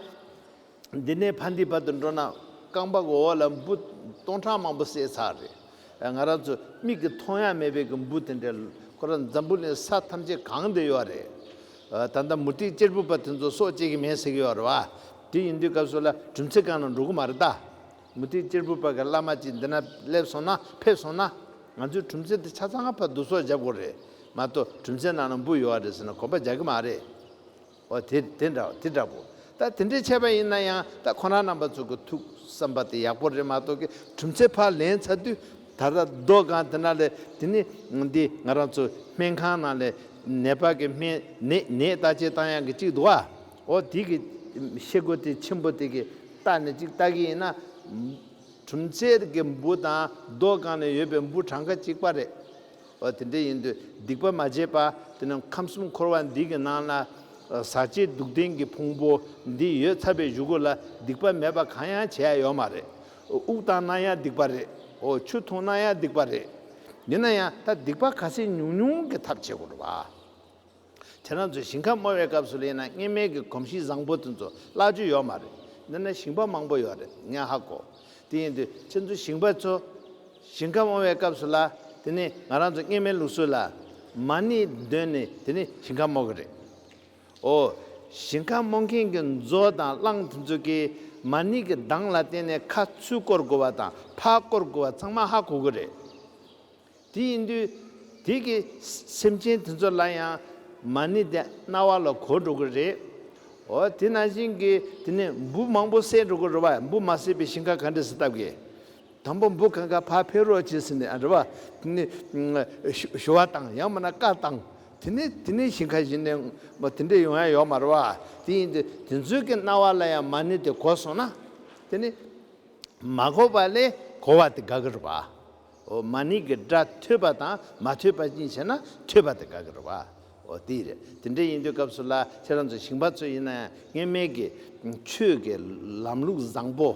འདི་ནས་ཕ་འདི་བར་དུ་འགྲོ་ན་རྐང་པ་འོག་ལ་འབུ་སྟོང་ཕྲག་མང་པོ་བསད་ཚར་རེད། ང་རང་ཚོ་མིག་གིས་མཐོང་ཡག་མེད་པའི་གི་འབུ་དེ་འདྲས་ཁོ་རང་འཛམ་བུ་གླིང་ས་ཐམས་ཅད་གང་དུ་ཡོད་རེད། ད་ལྟ་མུ་ཏིག་གཅེར་བུ་པ་དེ་ཚོ་སྲོག་བཅད་ཀྱི་མེད་ཟེར་གྱི་ཡོད་རེད་བ། དེ་ཡིན་དུས་སྐབས་སུ་ལ་གྲུམ་ཚེ་གང་ན་འགྲོ་གི་མ་རེད་ད། མུ་ཏིག་གཅེར་བུ་པ་གི་བླ་མ་ཅིག་འདི་ན་སླེབས་སོང་ན་ཕེབས་སོང་ན། ང་ཚོའི་གྲུམ་ཚེ་འདི་ཆ་ཚང་ང་ཕར་བསྡུ་གསོག་བྱ་དགོས་རེད་མ་གཏོགས་གྲུམ་ཚེ་ནང་ན་འབུ་ཡོད་རེད་ཟེར་ན་གོ་བ་རྒྱག་གི་མ་རེད། འོ་དེ་དེ་འདྲ་དེ་འདྲ་པོ། ད་དེ་འདྲའི་ཆད་པ་ཡིན་ན་ཡང་ད་ཁོ་རང་རྣམ་པ་ཚོ་གི་ཐུགས་བསམ་པ་དེ་ཡག་པོ་རེད་མ་གཏོགས་ཀི་གྲུབ་འཚེ་ཕར་ལེན་ཚར་དུས་ད་ལྟ་སྡོད་ཁང་དེ་ན་ལས་དེ་ནི་འདི་ང་རང་ཚོ་སྨན་ཁང་ནང་ལས་ནད་པ་གི་སྨན་ནད་ནད་ལྟ་བྱེད་སྟངས་ཡང་གི་གཅིག་འདུག་ཨ་འོ་དེ་གི་ཤེལ་སྒོ་དེ་ཆེན་པོ་དེ་གི་ལྟ་ནས་གཅིག་ལྟ་གི་ཡིན་ན། གྲུབ་འཚེ་གི་འབུ་དང་སྡོད་ཁང་ནས་ཡོད་པའི་འབུ་གྲངས་ཀ་གཅིག་པ་རེད། བ་དེ་འདྲ་ཡིན་དུས་སྡིག་པ་མ་བྱས་པ་དེ་ནི་ཁམས་གསུམ་འཁོར་བ་འདི་གི་ནང་ན་ཟག་བཅས་སྡུག་བདེན་གྱི་ཕུང་པོ་འདི་ཡོད་ཚར་པའི་གཞུག་གུ་ལ་སྡིག་པ་མེད་པ་གང་ཡང་བྱས་ཡོད་མ་རེད། དབུགས་བཏང་ན་ཡང་སྡིག་པ་རེད། ཆུ་འཐུང་ན་ཡང་སྡིག་པ་རེད། ཡིན་ན་ཡང་ད་སྡིག་པ་ག་ཚད་ཉུང་ཉུང་གི་ཐབས་བྱེད་དགོས་རེད་བ། དེ་རང་ཚོས་ཞིང་ཁ་རྨོ་བའི་སྐབས་སུ་གླེང་ན་བརྙན་མལ་གྱི་གོམས་གཤིས་བཟང་པོ་དེ་ཚོ་བརླག་རྒྱུ་ཡོད་མ་རེད། འདི་ན་ཞིང་པ་མང་པོ་ཡོད་རེད་སྙན་ཧ་གོ། དེ་ཡིན་དུས་ཁྱེད་ཚོ་ཞིང་པ་ཚོ། ཞིང་ཁ་རྨོ་བའི་སྐབས་སུ་ལ་དེ་ནི་ང་རང་ཚོ་བརྙན་མལ་ལུགས་སྲོལ་ལ། མ་ཎི་འདོན་ནས་དེ་ནི་ཞིང་ཁ་རྨོ་གི་རེད། འོ། ཞིང་ཁ་རྨོ་མཁན་གྱི་མཛོ་དང་གླང་དེ་ཚོ་གིས་མ་ཎི་གི་གདངས་ལ་བརྟེན་ནས་ཁ་ཚུད་བསྐོར་དགོས་བ་དང་ཕག་བསྐོར་དགོས་བ་ཚང་མ་ཧ་གོ་གི་རེད། དེ་ཡིན་དུས། དེ་གི་སེམས་ཅན་དེ་ཚོ་ལ་ཡང་མ་ཎི་དེ་རྣ་བ་ལ་གོ་འགྲོ་གི་རེད། འོ་དེ་ནང་བཞིན་གི་དེ་ནི་འབུ་མང་པོ་བསད་འགྲོ་གི་རེད་བ་འབུ་མ་བསད་པའི་ཞིང་ཁ་ག་འདྲི་ཟེར་ཐབས་གི། དང་པོ་འབུ་གང་ག་ཕ་ཕེ་རོག་བྱེད་ཟེར་ནས་རེད་བ་དེ་ནི་ཞུ་བ་དང་ཡང་མ་ན་བཀའ་བཏང། དེ་ནི་དེ་ནི་ཞིང་ཁ་བཞིན་ནས་མོ་དེ་འདྲས་ཡོང་ཡ་ཡོག་མ་རེད་བ་དེ་ཡིན་དུས་དེ་ཚོའི་གི་རྣ་བ་ལ་ཡང་མ་ཎི་དེ་གོ་སོང་ན། དེ་ནི་མ་གོ་བ་ལས་གོ་བ་དེ་ག་གི་རེད་བ། འོ་མ་ནི་གི་སྒྲ་ཐོས་པ་དང་མ་ཐོས་པ་གཉིས་བྱས་ན་ཐོས་པ་དེ་དགག་གི་རེད་བ། འོ་དེ་རེད་དེ་འདྲ་ཡིན་དུས་སྐབས་སུ་ལ་ཁྱེད་རང་ཚོ་ཞིང་པ་ཚོ་ཡིན་ན་ཡང་ངེས་མེད་ཀི་ཆོས་ཀི་ལམ་ལུགས་བཟང་པོ་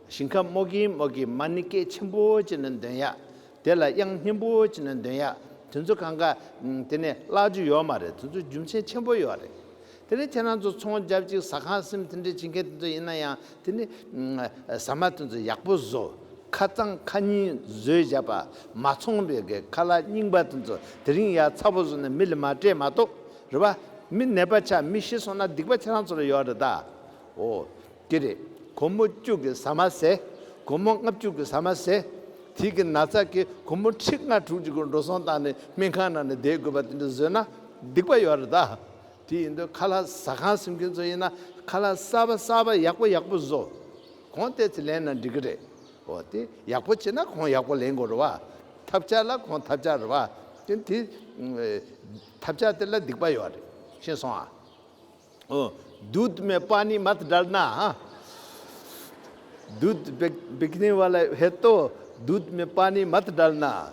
ཞིང་ཁ་རྨོ་གིན་རྨོ་གིན་མ་ནི་སྐད་ཆེན་པོ་བྱས་ན་འདོན་ཡག་དེ་ལ་དབྱངས་སྙན་པོ་བྱས་ན་འདོན་ཡག་དེ་ཚོ་གང་ག་དེ་ནས་བརླག་རྒྱུ་ཡོད་མ་རེད་དེ་ཚོ་རྒྱུ་མཚན་ཆེན་པོ་ཡོད་རེད་དེ་ནི་ཁྱེད་རང་ཚོ་ཚོང་རྒྱབ་ཅིག་ཟ་ཁང་སིམ་དེ་འདྲས་བྱེད་མཁན་དེ་ཚོ་ཡིན་ན་ཡང་དེ་ནི། ཟ་མ་དེ་ཚོ་ཡག་པོ་བཟོ། ཁ་རྩང་ཁ་སྙིང་བཟོས་བཞག་པ་མ་ཚོང་པའི་གི་ཁ་ལག་རྙིང་པ་དེ་ཚོ་དེ་རིང་ཡག་ཚ་པོ་བཟོ་ནས་མི་ལ་མ་སྤྲད་མ་གཏོགས་རེད་བ། མི་ནད་པ་ཆགས་མི་ཤི་སོང་ན་སྡིག་པ་ཁྱེད་རང་ཚོ་ལ་ཡོད་རེད་ད། འོ། དེ་རེད། གོར་མོ་བཅུག་གི་ཟ་མ་ཟས། གོར་མོ་ལྔ་བཅུག་གི་ཟ་མ་ཟས། དེའི་གི་ན་ཚ་གི་གོར་མོ་ཁྲི་ལྔ་དྲུག་ཅིག་གི་འགྲོ་སོང་བཏང་ནས་སྨན་ཁང་ནང་ནས་བསྡད་དགོས་པ་དེ་འདྲས་བཟོས་ན་སྡིག་པ་ཡོད་རེད་ད། དེ་ཡིན་དུས་ཁ་ལྷ་ཟ་ཁང་སིམ་མཁན་ཚོ་ཡིན་ན་ཁ་ལྷ་གསར་པ་གསར་པ་ཡག་པོ་ཡག་པོ་བཟོ། གོང་བལྟས་ཚེ་ལེན་ན་འགྲིག་གི་རེད། འོ་དེ་ཡག་པོ་བྱེད་ན་གོང་ཡག་པོ་ལེན་དགོས་རེད་བ། ཐབས་ཆག་ལ་གོང་ཐབས་ཆག་རེད་བ། དེ་དེ། ཐབས་ཆག་དེ་ལ་སྡིག་པ་ཡོད་རེད། ཤེས་སོང་ཨ། འོ། Dude མེ་སྤ་ནི་མ་ད་དྲལ་ན་ཨ། Dude བེག་བེག་ནི་བ་ལ་བྷེ་ཏོ། Dude མེ་སྤ་ནི་མ་ད་དྲལ་ན་ཨ།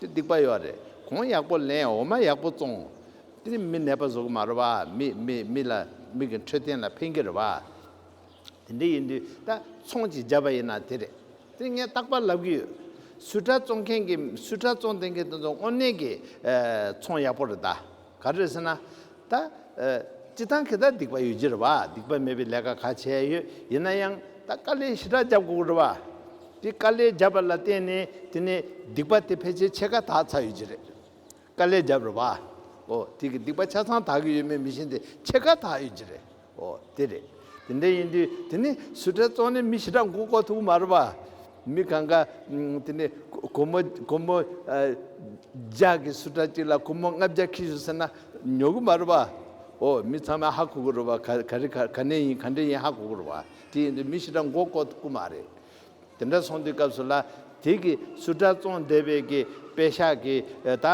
དེ་སྡིག་པ་ཡོད་རེད་གོང་ཡག་པོ་ལེན་འོ་མ་ཡག་པོ་བཙོང། དེ་མི་ནད་པ་གཟུགས་མ་རུ་བ་མི་མི་མི་ལ་མིག་གི་འཕྲོད་བསྟེན་ལ་ཕན་གྱི་རུ་བ། དེ་འདྲ་ཡིན་དུས་ད་ཚོང་ཅིག་བརྒྱབ་པ་ཡིན་ན་དེ་རེད་དེ་ངས་རྟག་པར་ལབ་གི་ཡོད། སུས་དྲ་བཙོང་མཁན་གྱི་སུས་དྲ་བཙོང་བསྟེན་མཁན་དེ་ཚོ་དངོས་གནས་ཀྱི་ཚོང་ཡག་པོ་རེད་ད། ག་རེད་ཟེར་ན། ད། སྤྱི་བཏང་གི་ད་སྡིག་པ་ཡོད་ཀྱི་རེད་བ། སྡིག་པ་མེད་པའི་ལས་ཀ་ག་བྱས་ཡོད་ཡིན་ན་ཡང་ད་དཀའ་ལས་ཞི་དྲག་བརྒྱབ་དགོས་ཀྱི་རེད་བ། དེ་དཀའ་ལས་བརྒྱབ་པ་ལ་བརྟེན་ནས་དེ་ནས་སྡིག་པ་དེ་ཕལ་ཆེར་ཕྱེད་ཀ་དག་ཚར་ཡོད་ཀྱི་རེད། དཀའ་ལས་བརྒྱབ་རེད་བ། འོ་དེ་གི་སྡིག་པ་ཆ་ཚང་དག་གི་ཡོད་མེད་མི་ཤེས་དེ་ཕྱེད་ཀ་དག་ཡོད་ཀྱི་རེད། ཨོ་དེ་རེད། དེ་འདྲ་ཡིན་དུས་དེ་ནི་སུ་གྲྭའི་གཙོ་གནས་མི་ཞེ་དྲག་འགུག་ཁོ་ཐུག་མ་རེད་པ། མི་གང་ག་དེ་ནི་ཁོ་མོ་ཁོ་མོ་ཇག་གི་སུ་གྲྭ་གཅིག་ལ་ཁོ་མོ་ལྔ་བརྒྱ་ཁིལ་ཞུ་ཟེར་ན་ཉོ་གི་མ་རེད་པ། ཨོ་མི་ཚང་མས་ཧ་གོ་གི་རེད་པ་ག་རེ་ག་ནས་ཡིན་ག་འདྲ་ཡིན་ཧ་གོ་གི་རེད་པ། དེ་ཡིན་དུས་མི་ཞེ་དྲག་འགུག་ཁོ་ཐུག་གི་མ་རེད། དེ་འདྲ་སོང་དུས་སྐབས་སུ་ལ་དེ་གི་སུ་གྲྭ་བཙོང་བསྡད་པའི་གི་དཔེ་ཤག་གི་ད།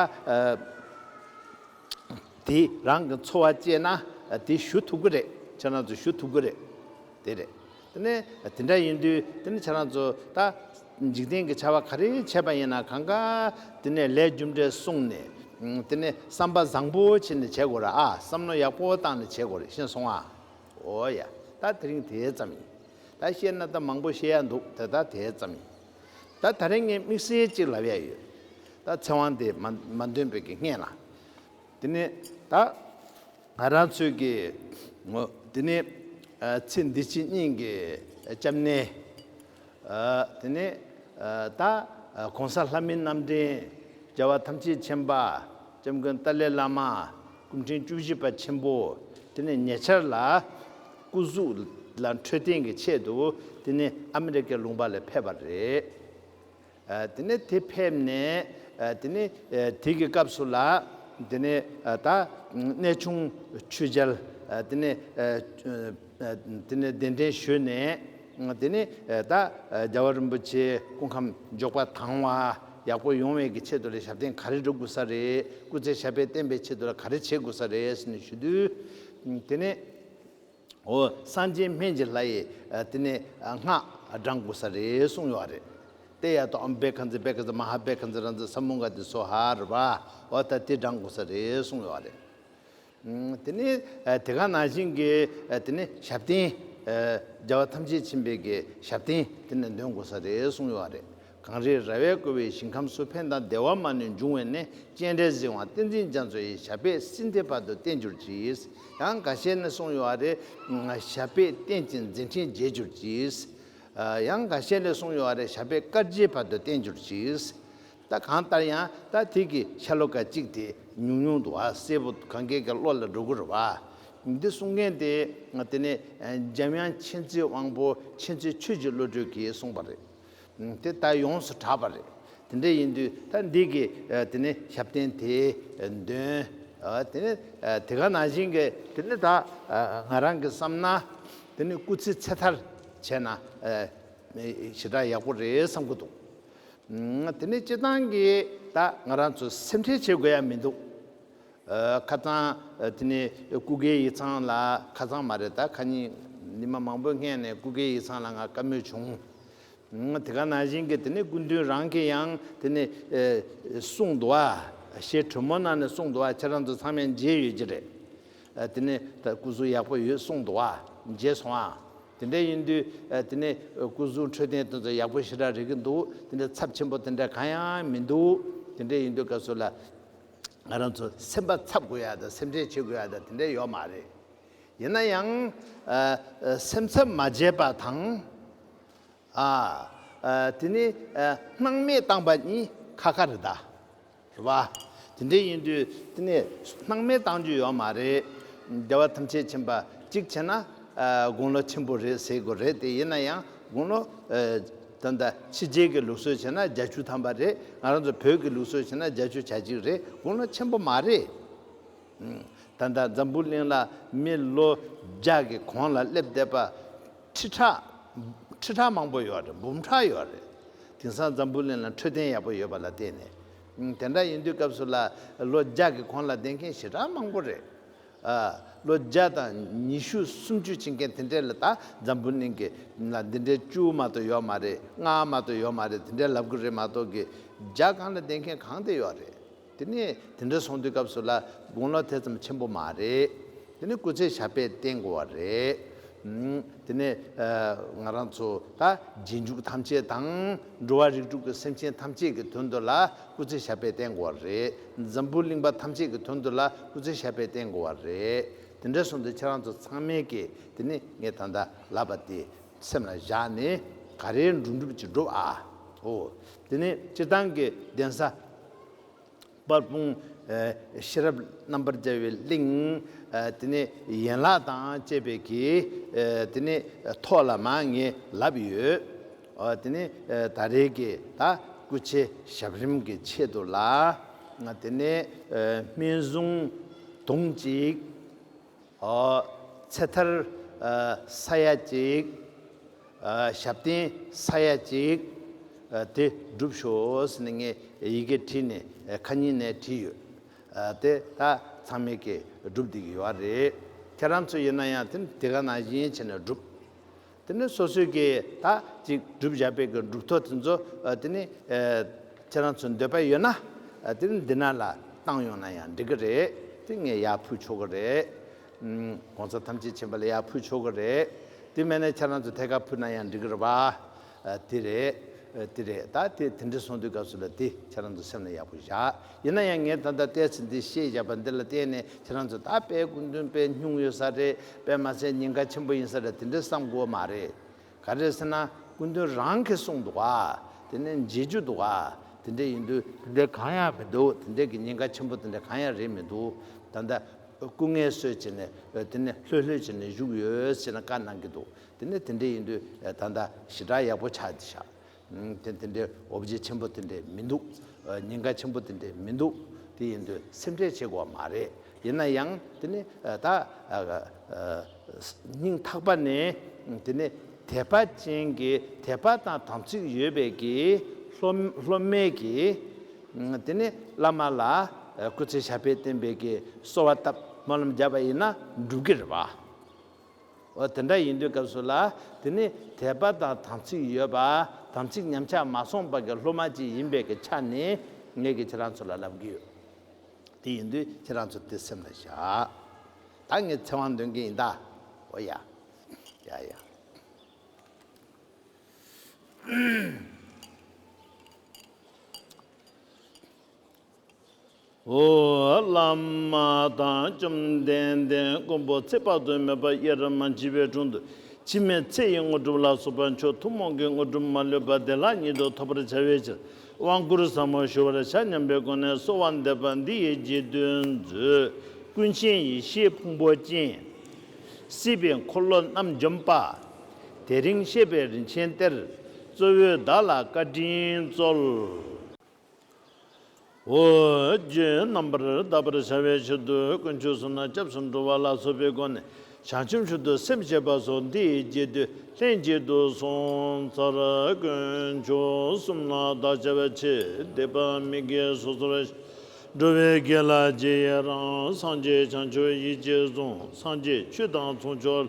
དེ་རང་གི་འཚོ་བ་བཅད་ན་དེ་ཞུ་ཐུབ་ཀྱི་རེད་ཁྱེད་རང་ཚོས་ཞུ་ཐུབ་ཀྱི་རེད། དེ་རེད། དེ་ནས་དེ་འདྲ་ཡིན་དུས་དེ་ནས་ཁྱེད་རང་ཚོ་ད་འཇིག་རྟེན་གྱི་བྱ་བ་ག་རེ་བྱས་པ་ཡིན་ན་གང་གཱ་དེ་ནས་ལས་རྒྱུ་འབྲས་གསུངས་ནས་དེ་ནས་བསམ་པ་བཟང་པོ་བྱེད་ནས་བྱས་དགོས་ར་ཨ་བསམ་བློ་ཡག་པོ་བཏང་ནས་བྱས་དགོས་རེད་ཤེས་སོང་ཨ། འོ་ཡ། ད་དེ་རིང་དེ་ཙམ་ཡིན། ད་བཤད་ན་ད་མང་པོ་བཤད་ཡག་འདུག་དེ་ད་དེ་ཙམ་ཡིན། ད་ད་རིང་ངས་དམིགས་བསལ་གཅིག་ལབ་ཡག་ཡོད། ད་ཚེ་དབང་དེ་མ་འདོན་པའི་ངེས་ལ་དེ་ནས་ད་ང་རང་ཚོས་ཀྱི་ངོ། དེ་ནས་ཚེ་འདི་ཕྱི་གཉིས་ཀྱི་སྐྱབས་གནས། དེ་ནས་ད་གོང་ས་ལྷ་མིའི་རྣམ་འདྲེན་རྒྱལ་བ་ཐམས་ཅད་མཁྱེན་པ་སྐྱབས་མགོན་ཏཱ་ལའི་བླ་མ་སྐུ་ཕྲེང་བཅུ་བཞི་པ་ཆེན་པོ་དེ་ནས་ཉེ་ཆར་ལ་སྐུ་གཟུགས་ལ་འཕྲོད་བསྟེན་གྱི་ཆེད་དུ་དེ་ནས་ཨ་མི་རི་ཀའི་ལུང་པ་ལ་ཕེབས་པ་རེད། དེ་ནས་དེ་ཕེབས་ནས་དེ་ནས་དེ་གི་སྐབས་སུ་ལ་དེ་ནས་ད་གནས་ཆུང་ཆུས་འཇལ་དེ་ནས་དེ་ནས་གདན་འདྲེན་ཞུས་ནས་དེ་ནས་ད་རྒྱལ་བ་རིན་པོ་ཆེའི་སྐུ་ཁམས་མགྱོགས་པ་དང་བ་ཡག་པོ་ཡོང་བའི་གི་ཆེད་དུ་ལ་ཞབས་བརྟན་ག་རེ་འགྲོ་དགོས་ས་རེད་སྐུ་ཚེ་ཞབས་པད་བརྟན་པའི་ཆེད་དུ་ལ་ག་རེ་བྱེད་དགོས་ས་རེད་ཟེར་ནས་ཞུས་དུས་དེ་ནས། འོ་སངས་རྒྱས་སྨན་གྱི་ལྷ་ཡིས་དེ་ནས་སྔགས་བགྲང་དགོས་ས་རེད་གསུངས་ཡོད་རེད། དེ་ཡ་ཏོ་ཨམ་བེ་ཁ་ཛི་བེ་ཁ་ཛི་མ་ཧ་བེ་ཁ་ཛི་ར་ཛི་ས་མུ་ག་ཏི་སོ་ཧ་ར་བ་ཨོ་ད་དེ་བགྲང་དགོས་ས་རེད་གསུངས་ཡོད་རེད། དེ་ནས་དེ་ག་ནང་བཞིན་གྱི་དེ་ནས་ཞབས་བརྟན། རྒྱལ་བ་ཐམས་ཅད་མཆིས་པའི་གི་ཞབས་བརྟན་དེ་ནས་འདོན་དགོས་ས་རེད་གསུངས་ཡོད་རེད། གངས་རིའི་ར་བས་བསྐོར་བའི་ཞིང་ཁམས་སུ་ཕན་དང་བདེ་བ་མ་ནུས་འབྱུང་བས་ནས་སྤྱན་རས་གཟིགས་དབང་བསྟན་འཛིན་རྒྱ་མཚོ་ཡི་ཞབས་པད་སྲིད་མཐའི་བར་དུ་བརྟན་གྱུར་ཅིག། ཡང་འགའ་ཤས་ནས་གསུངས་ཡོད་བ་རེད། ཞབས་པད་བརྟན་ཅིང་མཛད་འཕྲིན་རྒྱས་གྱུར་ཅིག། ཡང་འགའ་ཤས་ལས་གསུངས་ཡོད་བ་རེད་ཞབས་པད་དཀར་རྗེའི་བར་དུ་བརྟན་གྱུར་ཅིག། ད་གང་ལྟར་ཡང་ད་ཐིག་གི་ཤྭ་ལོ་ཀ་གཅིག་དེ་ཉུང་ཉུང་དུ་བ་སེར་པོ་གངས་རྒྱལ་གྱི་བློ་ལ་སྒྲོ་སྐུར་བ། འདི་གསུང་མཁན་དེ་དེ་ནི་འཇམ་དབྱངས་མཁྱེན་བརྩེའི་དབང་པོ་མཁྱེན་བརྩེ་ཆོས་ཀྱི་བློ་གྲོས་ཀྱིས་གསུངས་པ་རེད། དེ་ལྟ་ཡོངས་སུ་གྲགས་པ་རེད། དེ་འདྲ་ཡིན་དུས་ད་འདི་གི་དེ་ནི་ཞབས་བརྟན་དེ་འདོན། དེ་ནི་དེ་ག་ན་བཞིན་གྱི་དེ་ནི་ད་ང་རང་གི་བསམ་ན་དེ་ནི་སྐུ་ཚེ་ཚེ་ཐར་བྱས་ན་ཞེ་དྲག་ཡག་པོ་རེད་བསམ་གྱི་འདུག་དེ་ནི་སྤྱི་བཏང་གིས་ད་ང་རང་ཚོ་སེམས་ཁྲལ་བྱེད་དགོས་ཡ་མི་འདུག་ཁ་རྩང། དེ་ནས་སྐུ་སྒེར་ཡིག་ཚང་ལ་ཁ་རྩང་མ་རེད་ད་ཁ་གཉིས། ཉི་མ་མང་པོའི་སྔས་ནས་སྐུ་སྒེར་ཡིག་ཚང་ལ་ང་དཀའ་མོས་བྱུང། དེ་ག་ན་བཞིན་གི་དེ་ནས་སྐུ་མདུན་རང་གི་ཡང་དེ་ནས། གསུང་དུ་བ། ཞེས་དྲོན་མོ་ནང་ནས་གསུང་དུ་བ་ཁྱེད་རང་ཚོ་ཚང་མས་མཇལ་ཡོད་ཀྱི་རེད། དེ་ནས་ད་སྐུ་གཟུགས་ཡག་པོ་ཡོད་གསུང་དུ་བ་མཇལ་སོང་ཨ། དེ་འདྲ་ཡིན་དུས་དེ་ནས་སྐུ་གཟུགས་འཕྲོད་བསྟེན་དོན་ཚོ་ཡག་པོ་ཞེ་དྲག་རེད་ཀྱི་འདུག་དེ་འདྲ་ཚབས་ཆེན་པོ་དེ་འདྲ་གང་ཡང་མི་འདུག་དེ་འདྲ་ཡིན་དུས་སྐབས་སུ་ལ། ང་རང་ཚོ་སེམས་པ་འཚབ་དགོས་ཡ་དང་སེམས་ཁྲལ་བྱེད་དགོས་ཡ་དང་དེ་འདྲ་ཡོད་མ་རེད། ཡིན་ན་ཡང། སེམས་འཚབ་མ་བྱེད་པ་དང། དེ་ནི་སྣང་མེད་བཏང་པ་ནི་ཁ་ཁ་རེད་ད། རེད་བ། དེ་འདྲ་ཡིན་དུས་དེ་ནི་སྣང་མེད་བཏང་རྒྱུ་ཡོད་མ་རེད། རྒྱལ་བ་ཐམས་ཅད་མཁྱེན་པ་གཅིག་བྱས་ན་དགུང་ལོ་ཆེན་པོ་རེད་ཟེར་དགོས་རེད་དེ་ཡིན་ན་ཡང་དགུང་ལོ། ད་ལྟ་ཕྱི་རྒྱལ་གྱི་ལུགས་སྲོལ་བྱས་ན་བརྒྱ་བཅུ་ཐམ་པ་རེད། ང་རང་ཚོ་བོད་ཀྱི་ལུགས་སྲོལ་བྱས་ན་བརྒྱ་བཅུ་ཆ་གཅིག་རེད་དགུང་ལོ་ཆེན་པོ་མ་རེད། ད་ལྟ་འཛམ་བུ་གླིང་ལ་མི་ལོ་བརྒྱ་གི་གོང་ལ་སླེབས་བསྡད་པ། ཁྲི་ཕྲག། ཁྲི་ཕྲག་མང་པོ་ཡོད་རེད་འབུམ་ཕྲག་ཡོད་རེད། དེང་སང་འཛམ་བུ་གླིང་ལ་འཕྲོད་བསྟེན་ཡག་པོ་ཡོད་པ་ལ་བརྟེན་ནས། དེ་འདྲ་ཡིན་དུས་སྐབས་སུ་ལ་ལོ་བརྒྱ་གི་གོང་ལ་བསྡད་མཁན་ཞེ་དྲག་མང་པོ་རེད། ལོ་བརྒྱ་དང་ཉི་ཤུ་སུམ་ཅུ་ཕྱིན་མཁན་དེ་འདྲས་ལ་ད་འཛམ་བུ་གླིང་གི་ན་འདི་འདྲས་བཅུ་མ་གཏོགས་ཡོད་མ་རེད་ལྔ་མ་གཏོགས་ཡོད་མ་རེད་དེ་འདྲས་ལབ་གི་རེད་མ་གཏོགས་གི་རྒྱ་གང་ལ་བསྡད་མཁན་གང་དེ་ཡོད་རེད་དེ་ནས་དེ་འདྲས་སོང་དུས་སྐབས་སུ་ལ་དགུང་ལོ་དེ་ཙམ་ཆེན་པོ་མ་རེད་དེ་ནས་སྐུ་ཚེ་ཞབས་པད་བརྟན་དགོས་བ་རེད་དེ་ནས་ང་རང་ཚོ་ད་རྗེས་འཇུག་ཐམས་ཅད་དང་འགྲོ་བ་རིགས་དྲུག་གི་སེམས་ཅན་ཐམས་ཅད་ཀྱི་དོན་དུ་ལ་སྐུ་ཚེ་ཞབས་པད་བརྟན་དགོས་བ་རེད། འཛམ་བུ་གླིང་པ་ཐམས་ཅད་ཀྱི་དོན་དུ་ལ་སྐུ་ཚེ་ཞབས་པད་བརྟན་དགོས་བ་རེད། དེ་འདྲ་གསུངས་ཏེ་ཁྱེད་རང་ཚོ་ཚང་མས་ཀྱི་དེ་ནི་ངས་ད་ལྟ་ལབ་པ་དེ་སེམས་ལ་བཞག་ནས་ག་རེའི་འགྲོ་འགྲུབ་ཅིག་འགྲོ་ཨ། ཧོ། དེ་ནི་སྤྱིར་བཏང་གི་གདན་ས་དཔལ་སྤུངས་ཤེས་རབ་རྣམ་པར་རྒྱལ་བའི་གླིང། དེ་ནི་ཡན་ལག་དང་བཅས་པའི་གི་དེ་ནི་ཐོག་ལ་མ་ངས་ལབ་ཡོད། དེ་ནས་ད་རེས་ཀྱི་ད་སྐུ་ཆེ་ཞབས་རིམ་གྱི་ཆེད་དུ་ལ། དེ་ནས་སྨན་གཟུངས་དུང་གཅིག། ཚེ་ཐར་ས་ཡ་གཅིག། ཞབས་བརྟན་ས་ཡ་གཅིག། དེ་བསྒྲུབས་ཤོག་ནས་ངས་ཡི་གེ་བྲིས་ནས་ཁ་ཉིན་ནས་བྲིས་ཡོད། དེ་ད་ཚང་མས་ཀྱིས་བསྒྲུབས་བསྡད་ཀྱི་ཡོད་རེད། ཁྱེད་རང་ཚོ་ཡིན་ན་ཡང་དེ་ག་ནང་བཞིན་བྱས་ནས་བསྒྲུབས། དེ་ནས་སོ་སོའི་གེགས་དག་ཅིག་བསྒྲུབ་བྱ་དཔེ་གྱི་སྒྲུབ་ཐོ་དེ་ཚོ་དེ་ནི། ཁྱེད་རང་ཚོས་འདོད་པ་ཡོད་ན། དེ་ནི་འདི་ན་ལ་བཏང་ཡོང་ན་ཡང་འགྲིག་གི་རེད་དེ་ངས་ཡར་ཕུལ་ཆོག་གི་རེད། གོང་ས་ཐམས་ཅད་མཁྱེན་པ་ལ་ཡར་ཕུལ་ཆོག་གི་རེད། དེ་མེད་ན་ཁྱེད་རང་ཚོས་ཐད་ཀར་ཕུལ་ན་ཡང་འགྲིག་གི་རེད། དེ་རེད། དེ་རེད་ད་དེ་དེ་འདྲ་སོང་དུས་སྐབས་སུ་ལ་དེ་ཁྱེད་རང་ཚོ་སེམས་ལ་ཡག་པོ་བཞག་ཡིན་ན་ཡང་ངས་ད་ལྟ་བལྟས་ཚེ་འདི་ཤེས་བཞག་པ་འདི་ལ་བརྟེན་ནས་ཁྱེད་རང་ཚོ་ད་དཔལ་སྐུ་མདུན་དཔལ་སྙུང་ཡོད་ས་རེད་པས་མ་ཚད་ཉེན་ཁ་ཆེན་པོ་ཡིན་ས་རེད་དེ་འདྲའི་བསམ་དགོས་བ་མ་རེད། ག་རེད་ཟེར་ན་སྐུ་མདུན་རང་གིས་གསུངས་འདུག་ག་དེ་ནས་མཇལ་རྒྱུ་འདུག་ག་དེ་འདྲས་ཡིན་དུས་དེ་འདྲས་གང་ཡང་མི་འདུག་དེ་འདྲས་ཀྱི་ཉེན་ཁ་ཆེན་པོ་དེ་འདྲས་གང་ཡང་རེད་མི་འདུག་ད་ལྟ་སྐུ་ངལ་གསོས་བྱས་ནས་དེ་ནས་ལྷོད་ལྷོད་བྱས་ནས་བཞུགས་ཡོད་ཟེར་ན་བཀའ་གནང་གི་འདུག་དེ་ནས་དེ་འདྲས་ཡིན་དུས་ད་ལྟ་ཞི་དྲག་ཡག་པོ་ཆགས་འདི་ཞག་དེ་འདི་འདྲའི་འོབས་རྗེ་ཆེན་པོ་དེ་འདྲས་མི་འདུག། ཉེན་ཁ་ཆེན་པོ་དེ་འདྲས་མི་འདུག་དེ་ཡིན་དུས་སེམས་ཁྲལ་བྱེད་དགོས་བ་མ་རེད། ཡིན་ན་ཡང་དེ་ནི་ད། སྙིང་ཐག་པ་ནས་དེ་ནི་དད་པ་ཅན་གྱི་དད་པ་དང་དམ་ཚིག་ཡོད་པའི་གི་སློབ་མའི་གི། དེ་ནི་བླ་མ་ལ་སྐུ་ཚེ་ཞབས་པད་བརྟན་པའི་གི་གསོལ་བ་བཏབ་སྨོན་ལམ་བརྒྱབ་པ་ཡིན་ན་འགྲུབ་གི་རེད་བ། འོ་དེ་འདྲ་ཡིན་དུས་སྐབས་སུ་ལ་དེ་ནི་དད་པ་དང་དམ་ཚིག་ཡོད་པ་དམ་ཚིག་ཉམས་ཆག་མ་སོང་བ་གི་སློབ་མ་ཅིག་ཡིན་པའི་གི་ཆ་ནས་ངེད་ཀྱིས་ཁྱེད་རང་ཚོ་ལ་ལབ་གི་ཡོད། དེ་ཡིན་དུས་ཁྱེད་རང་ཚོ་དེ་སེམས་ལ་བཞག་ད་ངས་ཚེ་དབང་འདོན་གི་ཡིན་ད་འོ་ཡ། ཡ་ཡ། ཧཱུྃ། བླ་མ་དང་བཅོམ་ལྡན་འདས་མགོན་པོ་ཚེ་དཔག་ཏུ་མེད་པ་ཡེ་ར་མ་འཇིལ་བའི་དྲུང་དུ་འཆི་མེད་ཚེ་ཡི་དངོས་གྲུབ་ལ་སོགས་པ་མཆོག་ཐུན་མོང་གི་དངོས་གྲུབ་མ་ལུས་པ་བདེ་བླག་ཉིད་དུ་ཐོབ་པར་བྱ་བའི་ཕྱིར་དབང་བསྐུར་ཟབ་མོ་ཞུ་བར་བྱ་སྙམ་པའི་སྒོ་ནས་གསོལ་བ་འདེབས་པ་འདི་ཡི་རྗེས་ཟློས་མཛོད། ཀུན་མཁྱེན་ཡེ་ཤེས་ཕུང་པོ་ཅན། སྲིད་པའི་འཁོར་ལོ་རྣམ་འཇོམས་པ། དེ་རིང་གཤེགས་པའི་རིན་ཆེན་གཏེར། གཙོ་བོས་བདག་ལ་བཀའ་དྲིན་སྩོལ། རྒྱུད་རྣམ་པར་དག་པར་བྱ་བའི་ཕྱིར་དུ་ཀུན་སྤྱོད་བསྲུངས་ན་སྐྱབས་སུ་འགྲོ་བ་ལ་སོགས་པའི་སྒོ་ནས་བྱང་ཆུབ་ཆུད་དུ་སེམས་བསྐྱེད་པ་སོགས་འདིའི་རྒྱས་བསྡུས་ལྷན་སྐྱེས་དུ་གསུངས་མཐར་ཀུན་སྤྱོད་གསུམ་ལ་བདག་བྱ་བའི་ཆེད་སྡེ་པ་མི་དགེ་སོ་སོར་འགྲོ་བའི་དགེ་ལ་རྗེས་ཡི་རང་སངས་རྒྱས་བྱང་ཆུབ་ཡིད་ཀྱིས་བཟུང་སངས་རྒྱས་ཆོས་དང་མཚུངས་ཕྱོགས་ལ་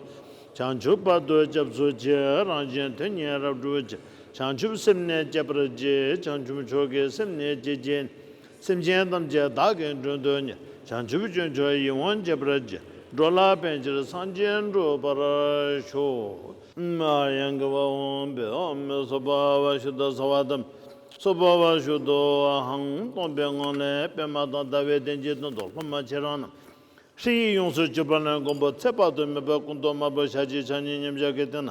བྱང་ཆུབ་བར་དུ་སྐྱབས་སུ་མཆི་རང་བཞིན་དོན་གཉེར་རབ་བསྒྲུབ་བྱ། བྱང་ཆུབ་སེམས་གནས་བསྐྱེད་པར་བགྱི། བྱང་ཆུབ་མཆོག་གི་སེམས་གནས་བསྐྱེད་བགྱིད། སེམས་ཅན་ཐམས་ཅད་བདག་གི་མགྲོན་དུ་བསྙེན། བྱང་ཆུབ་སྤྱོད་མཆོག་ཡིད་འོང་བསྐྱེད་པར་བགྱི། འགྲོ་ལ་ཕན་ཕྱིར་སངས་རྒྱས་འགྲུབ་པར་ཤོག། ཡང་དགེ་བ་འོངས་པའི་འོག་མིན་སོ་པ་བ་ཤུ་ད་སོ་བ་དང། སོ་པ་བ་ཤུ་དོ་ཧང་སྟོང་པའི་ངང་ལས་པད་མ་དང་ཟླ་བའི་གདན་གྱི་དོན་དུ་སློབ་མ་ཁྱེད་རང་རྣམས། ཧྲི་ཡིག་ཡོངས་སུ་གཅོད་པ་ལན་དགོན་པོ་ཚེ་དཔག་ཏུ་མེད་པ་སྐུ་མདོག་དམར་པོ་ཞལ་གཅིག་ཕྱག་གཉིས་མཉམ་གཞག་གི་སྟེང་ན།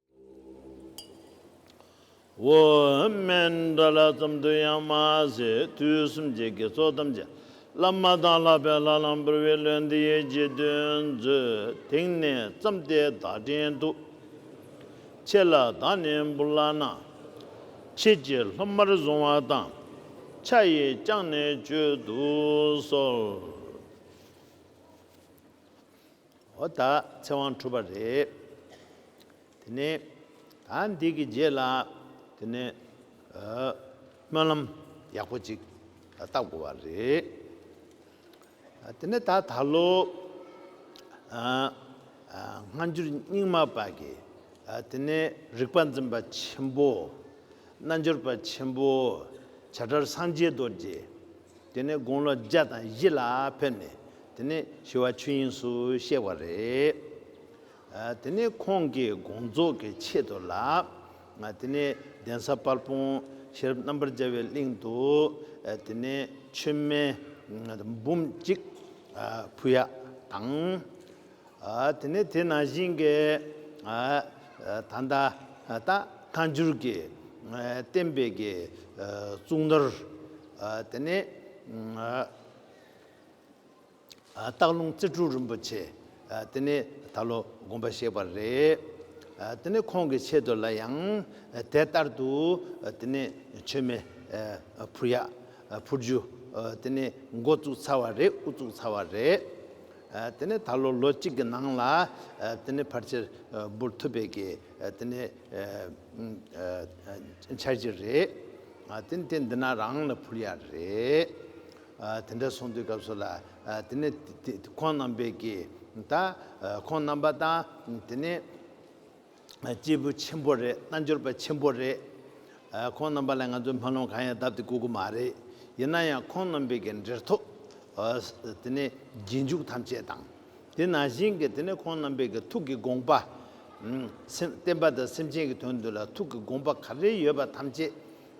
འོ་སྨན་འདྲ་ལ་ཙམ་དུ་ཡང་མ་ཟད་དུས་གསུམ་གྱི་དགེ་ཚོགས་ཐམས་ཅད་ལ་མ་དང་ལྷག་པའི་ལྷ་ལམ་བུར་བའི་ལོ་འདི་ཡི་རྗེས་ཟློས་མཛོད་དེང་ནས་བརྩམས་ཏེ་བདག་དྲན་དུ་ཆེ་ལ་བདག་ནི་འབུར་བླ་ན་མཆེད་ཀྱི་ལྷུམ་མར་བཟུང་བ་དང་ཆ་ཡིས་བསྐྱངས་ནས་བཅོས་བསྡུ་གསོལ། འོ་ད་ཚེ་དབང་གྲུབ་པ་རེད། དེ་ནས་ད་འདི་གི་རྗེས་ལ་དེ་ནས་སྨོན་ལམ་ཡག་པོ་ཅིག་བཏབ་དགོས་པ་རེད། དེ་ནས་ད་ད་ལོ་སྔ་འགྱུར་རྙིང་མ་པ་གི་དེ་ནས་རིག་པ་འཛིན་པ་ཆེན་པོ། རྣལ་འབྱོར་པ་ཆེན་པོ་བྱ་བྲལ་སངས་རྒྱས་རྡོ་རྗེ། དེ་ནས་དགུང་ལོ་བརྒྱ་དང་བཞི་ལ་ཕེབས་ནས་དེ་ནས་ཞི་བ་ཆོས་དབྱིངས་སུ་གཤེགས་པ་རེད། དེ་ནས་ཁོང་གིས་དགོངས་རྫོགས་ཀྱི་ཆེད་དུ་ལ། དེ་ནས་གདན་ས་དཔལ་སྤུངས་ཤེས་རབ་རྣམ་པར་རྒྱལ་བའི་གླིང་དུ། དེ་ནས་མཆོད་མེ་འབུམ་གཅིག་ཕུལ་ཡ་དང། དེ་ནས་དེ་ན་བཞིན་གྱི་ད་ལྟ་ཐ་འགྱུར་གྱི་བསྟན་པའི་གྱི་གཙུག་ནོར་དེ་ནི་སྟག་ལུང་རྩེ་དྲུག་རིན་པོ་ཆེ་དེ་ནི་ད་ལོ་དགོངས་པ་བཞེས་པ་རེད། དེ་ནི་ཁོང་གི་ཆེད་དུ་ལ་ཡང་དེ་ལྟར་དུ་དེ་ནི་མཆོད་མེ་ཕུར་ཡག་ཕུར་ཆུ་དེ་ནི་མགོ་བཙུགས་ཚར་བ་རེད་དབུ་བཙུགས་ཚར་བ་རེད། དེ་ནས་ད་ལོར་ལོ་གཅིག་གི་ནང་ལ་དེ་ནས་ཕར་ཆེར་འབུར་ཐུབ་པའི་གི་དེ་ནས་འཆར་གྱི་རེད། དེ་ནས་དེ་འདི་ན་རང་ལ་འཕུར་ཡ་རེད། དེ་འདྲ་སོང་དུས་སྐབས་སུ་ལ་དེ་ནས་ཁོང་རྣམ་པས་གི་ད་ཁོང་རྣམ་པ་དང་དེ་ནས། སྐྱེས་བུ་ཆེན་པོ་རེད་རྣལ་འབྱོར་པ་ཆེན་པོ་རེད། ཁོང་རྣམ་པ་ལ་ང་ཚོས་སྨོན་ལམ་གང་ཡང་གདབ་སྟེ་བསྐུར་གི་མ་རེད། ཡིན་ན་ཡང་ཁོང་རྣམ་པའི་གི་འབྲེལ་ཐོག་དེ་ནས་རྗེས་འཇུག་ཐམས་ཅད་དང། དེ་ནང་བཞིན་གྱི་དེ་ནས་ཁོང་རྣམ་པའི་གི་ཐུགས་ཀྱི་དགོངས་པ། བསྟན་པ་དང་སེམས་ཅན་གྱི་དོན་དུ་ལ་ཐུགས་ཀྱི་དགོངས་པ་ག་རེ་ཡོད་པ་ཐམས་ཅད་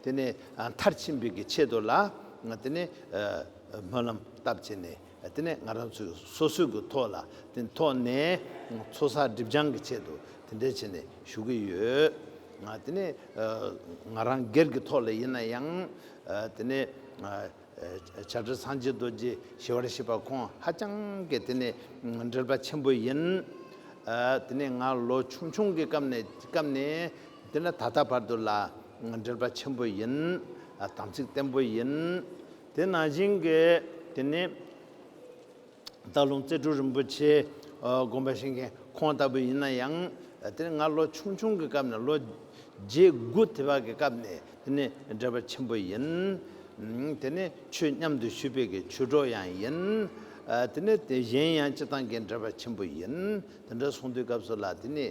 དེ་ནས་མཐར་ཕྱིན་པའི་གི་ཆེད་དུ་ལ་དེ་ནས་སྨོན་ལམ་བཏབ་བྱས་ནས། དེ་ནས་ང་རང་ཚོས་སོ་སོས་གུ་ཐོག་ལ་དེ་ཐོག་ནས་ཚོ་ས་སྒྲིབ་སྦྱང་གི་ཆེད་དུ་དེ་འདྲས་བྱེད་ནས་བཞུགས་ཀྱི་ཡོད། དེ་ནས་ང་རང་སྒེར་གྱི་ཐོག་ལ་ཡིན་ན་ཡང་དེ་ནས་བྱ་བྲལ་སངས་རྒྱས་རྡོ་རྗེ་ཞི་བར་གཤེགས་པ་ཁོང་ཧ་ཅང་གི་དེ་ནས་འབྲེལ་པ་ཆེན་པོ་ཡིན། དེ་ནས་ང་ལོ་ཆུང་ཆུང་གི་སྐབས་ནས་དེ་ནས་ད་ལྟ་བར་དུ་ལ་འབྲེལ་པ་ཆེན་པོ་ཡིན། དམ་ཚིག་བརྟན་པོ་ཡིན། དེ་ནང་བཞིན་གྱི་དེ་ནས། སྟག་ལུང་རྩེ་དྲུག་རིན་པོ་ཆེ་དགོན་པ་བཞེངས་མཁན་ཁོང་ལྟ་བུ་ཡིན་ན་ཡང། དེ་ནས་ང་ལོ་ཆུང་ཆུང་གི་སྐབས་ནས་ལོ་བརྒྱད་དགུ་དེ་བར་གྱི་སྐབས་ནས་དེ་ནི་འབྲེལ་བ་ཆེན་པོ་ཡིན། དེ་ནས་ཆོས་མཉམ་དུ་ཞུས་པའི་གྱི་ཆོས་གྲོགས་ཡང་ཡིན། དེ་ནས་དེ་གཞན་ཡང་སྤྱི་དང་གྱི་འབྲེལ་བ་ཆེན་པོ་ཡིན། དེ་འདྲ་སོང་དུས་སྐབས་སུ་ལ་དེ་ནི།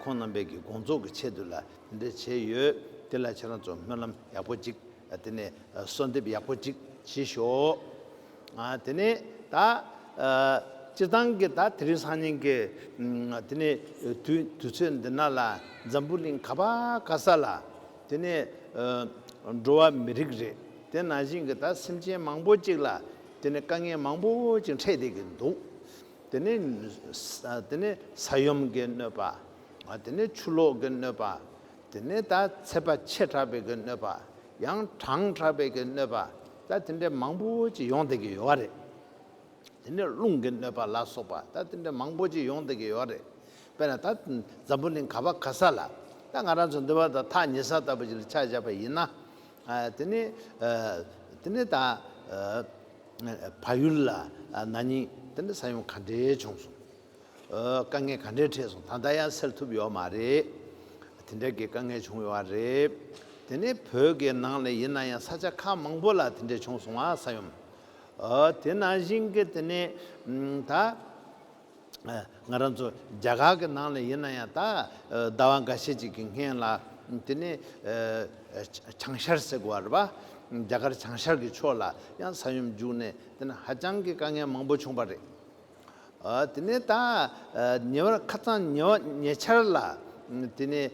ཁོང་རྣམ་པས་གྱི་དགོངས་རྫོགས་ཀྱི་ཆེད་དུ་ལ་དེ་འདྲ་བྱས་ཡོད། དེ་ལ་ཁྱེད་རང་ཚོ་སྨོན་ལམ་ཡག་པོ་གཅིག། དེ་ནས་གསོལ་འདེབས་ཡག་པོ་ཅིག་བྱེད་ཤོག། དེ་ནས་ད་སྤྱིར་བཏང་གི་ད་དེ་རིང་སང་ཉིན་གྱི་དེ་ནས་དུས་དུས་ཚོད་འདི་ན་ལ་འཛམ་བུ་གླིང་ག་པ་ག་ས་ལ་དེ་ནས་འགྲོ་བ་མི་རིགས་རེད་དེ་ནང་བཞིན་གྱི་ད་སེམས་ཅན་མང་པོ་ཅིག་ལ་དེ་ནས་དཀའ་ངལ་མང་པོ་ཅིག་འཕྲད་བསྡད་ཀྱི་འདུག་དེ་ནས་དེ་ནས་ས་ཡོམ་གྱི་གནོད་པ་དེ་ནས་ཆུ་ལོག་གི་གནོད་པ་དེ་ནས་ད་ཚེ་པ་ཆེ་དྲགས་པའི་གི་གནོད་པ། ཡང་གྲང་དྲགས་པའི་གི་གནོད་པ། ད་དེ་འདྲའི་མང་པོ་ཅིག་ཡོང་བསྡད་ཀྱི་ཡོད་བ་རེད། དེ་ནས་རླུང་གི་གནོད་པ་ལ་སོགས་པ་ད་དེ་འདྲའི་མང་པོ་ཅིག་ཡོང་བསྡད་ཀྱི་ཡོད་བ་རེད། དཔེར་ན་ད་འཛམ་བུ་གླིང་ག་བ་ག་ས་ལ་ད་ང་རང་ཚོ་འདུལ་བ་དང་ཐག་ཉེ་ས་ལྟ་བུ་ཅིག་ལ་ཆ་བཞག་པ་ཡིན་ན། དེ་ནས་དེ་ནས་ད་ཕ་ཡུལ་ལ་ན་ནིང་དེ་འདྲའི་ས་ཡོམ་ག་འདྲའི་བྱུང་སོང། དཀའ་ངལ་ག་འདྲའི་འཕྲད་སོང་ད་ལྟ་ཡང་སེལ་ཐུབ་ཡོད་མ་རེད། དེ་འདྲ་གི་དཀའ་ངལ་བྱུང་ཡོད་བ་རེད། དེ་ནི་བོད་ཀྱི་ནང་ལ་ཡིན་ན་ཡང་ས་ཆ་ཁག་མང་པོ་ལ་དེ་འདྲ་བྱུང་སོང་བ་ས་ཡོམ། དེ་ནང་བཞིན་གྱི་དེ་ནི་ད་ང་རང་ཚོ་རྒྱ་གར་གྱི་ནང་ལ་ཡིན་ན་ཡང་ད་ཟླ་བ་འགའ་ཤས་ཅིག་གི་སྔན་ལ་དེ་ནི་བྱང་ཤར་ཟེར་དགོས་བ་རེད་པ། རྒྱ་གར་བྱང་ཤར་གྱི་ཕྱོགས་ལ་ཡང་ས་ཡོམ་བརྒྱུགས་ནས་དེ་ནི་ཧ་ཅང་གི་དཀའ་ངལ་མང་པོ་བྱུང་བ་རེད། དེ་ནས་ད་ཉེ་བར་ཁ་རྩང་ཉེ་བ་ཉེ་ཆར་ལ། དེ་ནས་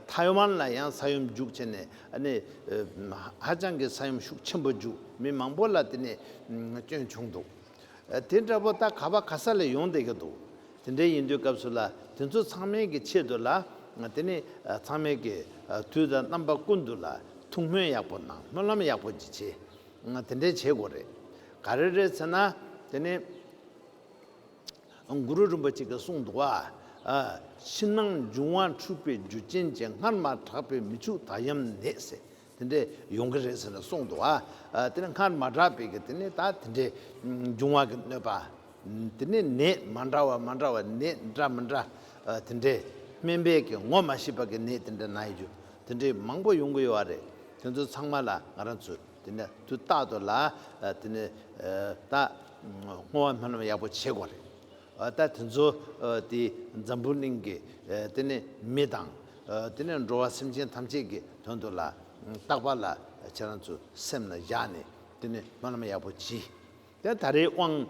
ཐའི་ཝན་ལ་ཡང་ས་ཡོམ་རྒྱུག་ཆེ་ནས་ནི། ཧ་ཅང་གི་ས་ཡོམ་ཤུགས་ཆེན་པོ་རྒྱུག་མི་མང་པོ་ལ་དེ་ནི་སྐྱོན་བྱུང་འདུག། དེ་འདྲ་པོ་ད་ག་པ་ག་ས་ལས་ཡོང་བསྡད་ཀྱི་འདུག་དེ་འདྲ་ཡིན་དུས་སྐབས་སུ་ལ་དེ་ཚོ་ཚང་མའི་གི་ཆེད་དུ་ལ་དེ་ནི་ཚང་མའི་གི་དུས་དང་རྣམ་པ་ཀུན་ཏུ་ལ་ཐུགས་སྨོན་ཡག་པོ་གནང་སྨོན་ལམ་ཡག་པོ་ཅིག་བྱེད། ང་དེ་འདྲའི་བྱེད་དགོས་རེད། ག་རེ་རེད་ཟེར་ན། དེ་ནི། གུ་རུ་རིན་པོ་ཆེ་གིས་གསུངས་འདུག་བ། ཕྱི་ནང་འབྱུང་བ་འཁྲུལ་པའི་རྒྱུ་རྐྱེན་གྱིས་སྔར་མ་གྲགས་པའི་མི་ཕྱུགས་དག་ཡམས་ནད་ཟེར་དེ་འདྲས་ཡོང་གི་རེད་ཟེར་ནས་གསུངས་འདུག་བ། དེ་ནི་སྔར་མ་གྲགས་པའི་གི་དེ་ནི་ད་དེ་འདྲའི་འབྱུང་བ་གི་གནོད་པ། དེ་ནི་ནད་མ་འདྲ་བ་མ་འདྲ་བ་ནད་འདྲ་མི་འདྲ་དེ་འདྲས་སྨན་པས་གི་ངོ་མ་ཤེས་པ་གི་ནད་དེ་འདྲ་ན་ཡོད་རྒྱུ་དེ་འདྲའི་མང་པོ་ཡོང་གི་ཡོད་རེད། དེ་ཚོ་ཚང་མ་ལ་ང་རང་ཚོས་དེ་ནས་དུས་རྟག་ཏུ་ལ་དེ་ནས་ད་བསྔོ་བ་སྨོན་ལམ་ཡག་པོ་བྱེད་དགོས་རེད། ད་དེ་ཚོ་དེ་འཛམ་བུ་གླིང་གི་དེ་ནས་མི་དང་དེ་ནས་འགྲོ་བ་སེམས་ཅན་ཐམས་ཅད་ཀྱི་དོན་དུ་ལ་རྟག་པ་ལ་ཁྱེད་རང་ཚོས་སེམས་ལ་བཞག་ནས་དེ་ནས་སྨོན་ལམ་ཡག་པོ་བགྱིས། དེ་ད་རེས་དབང།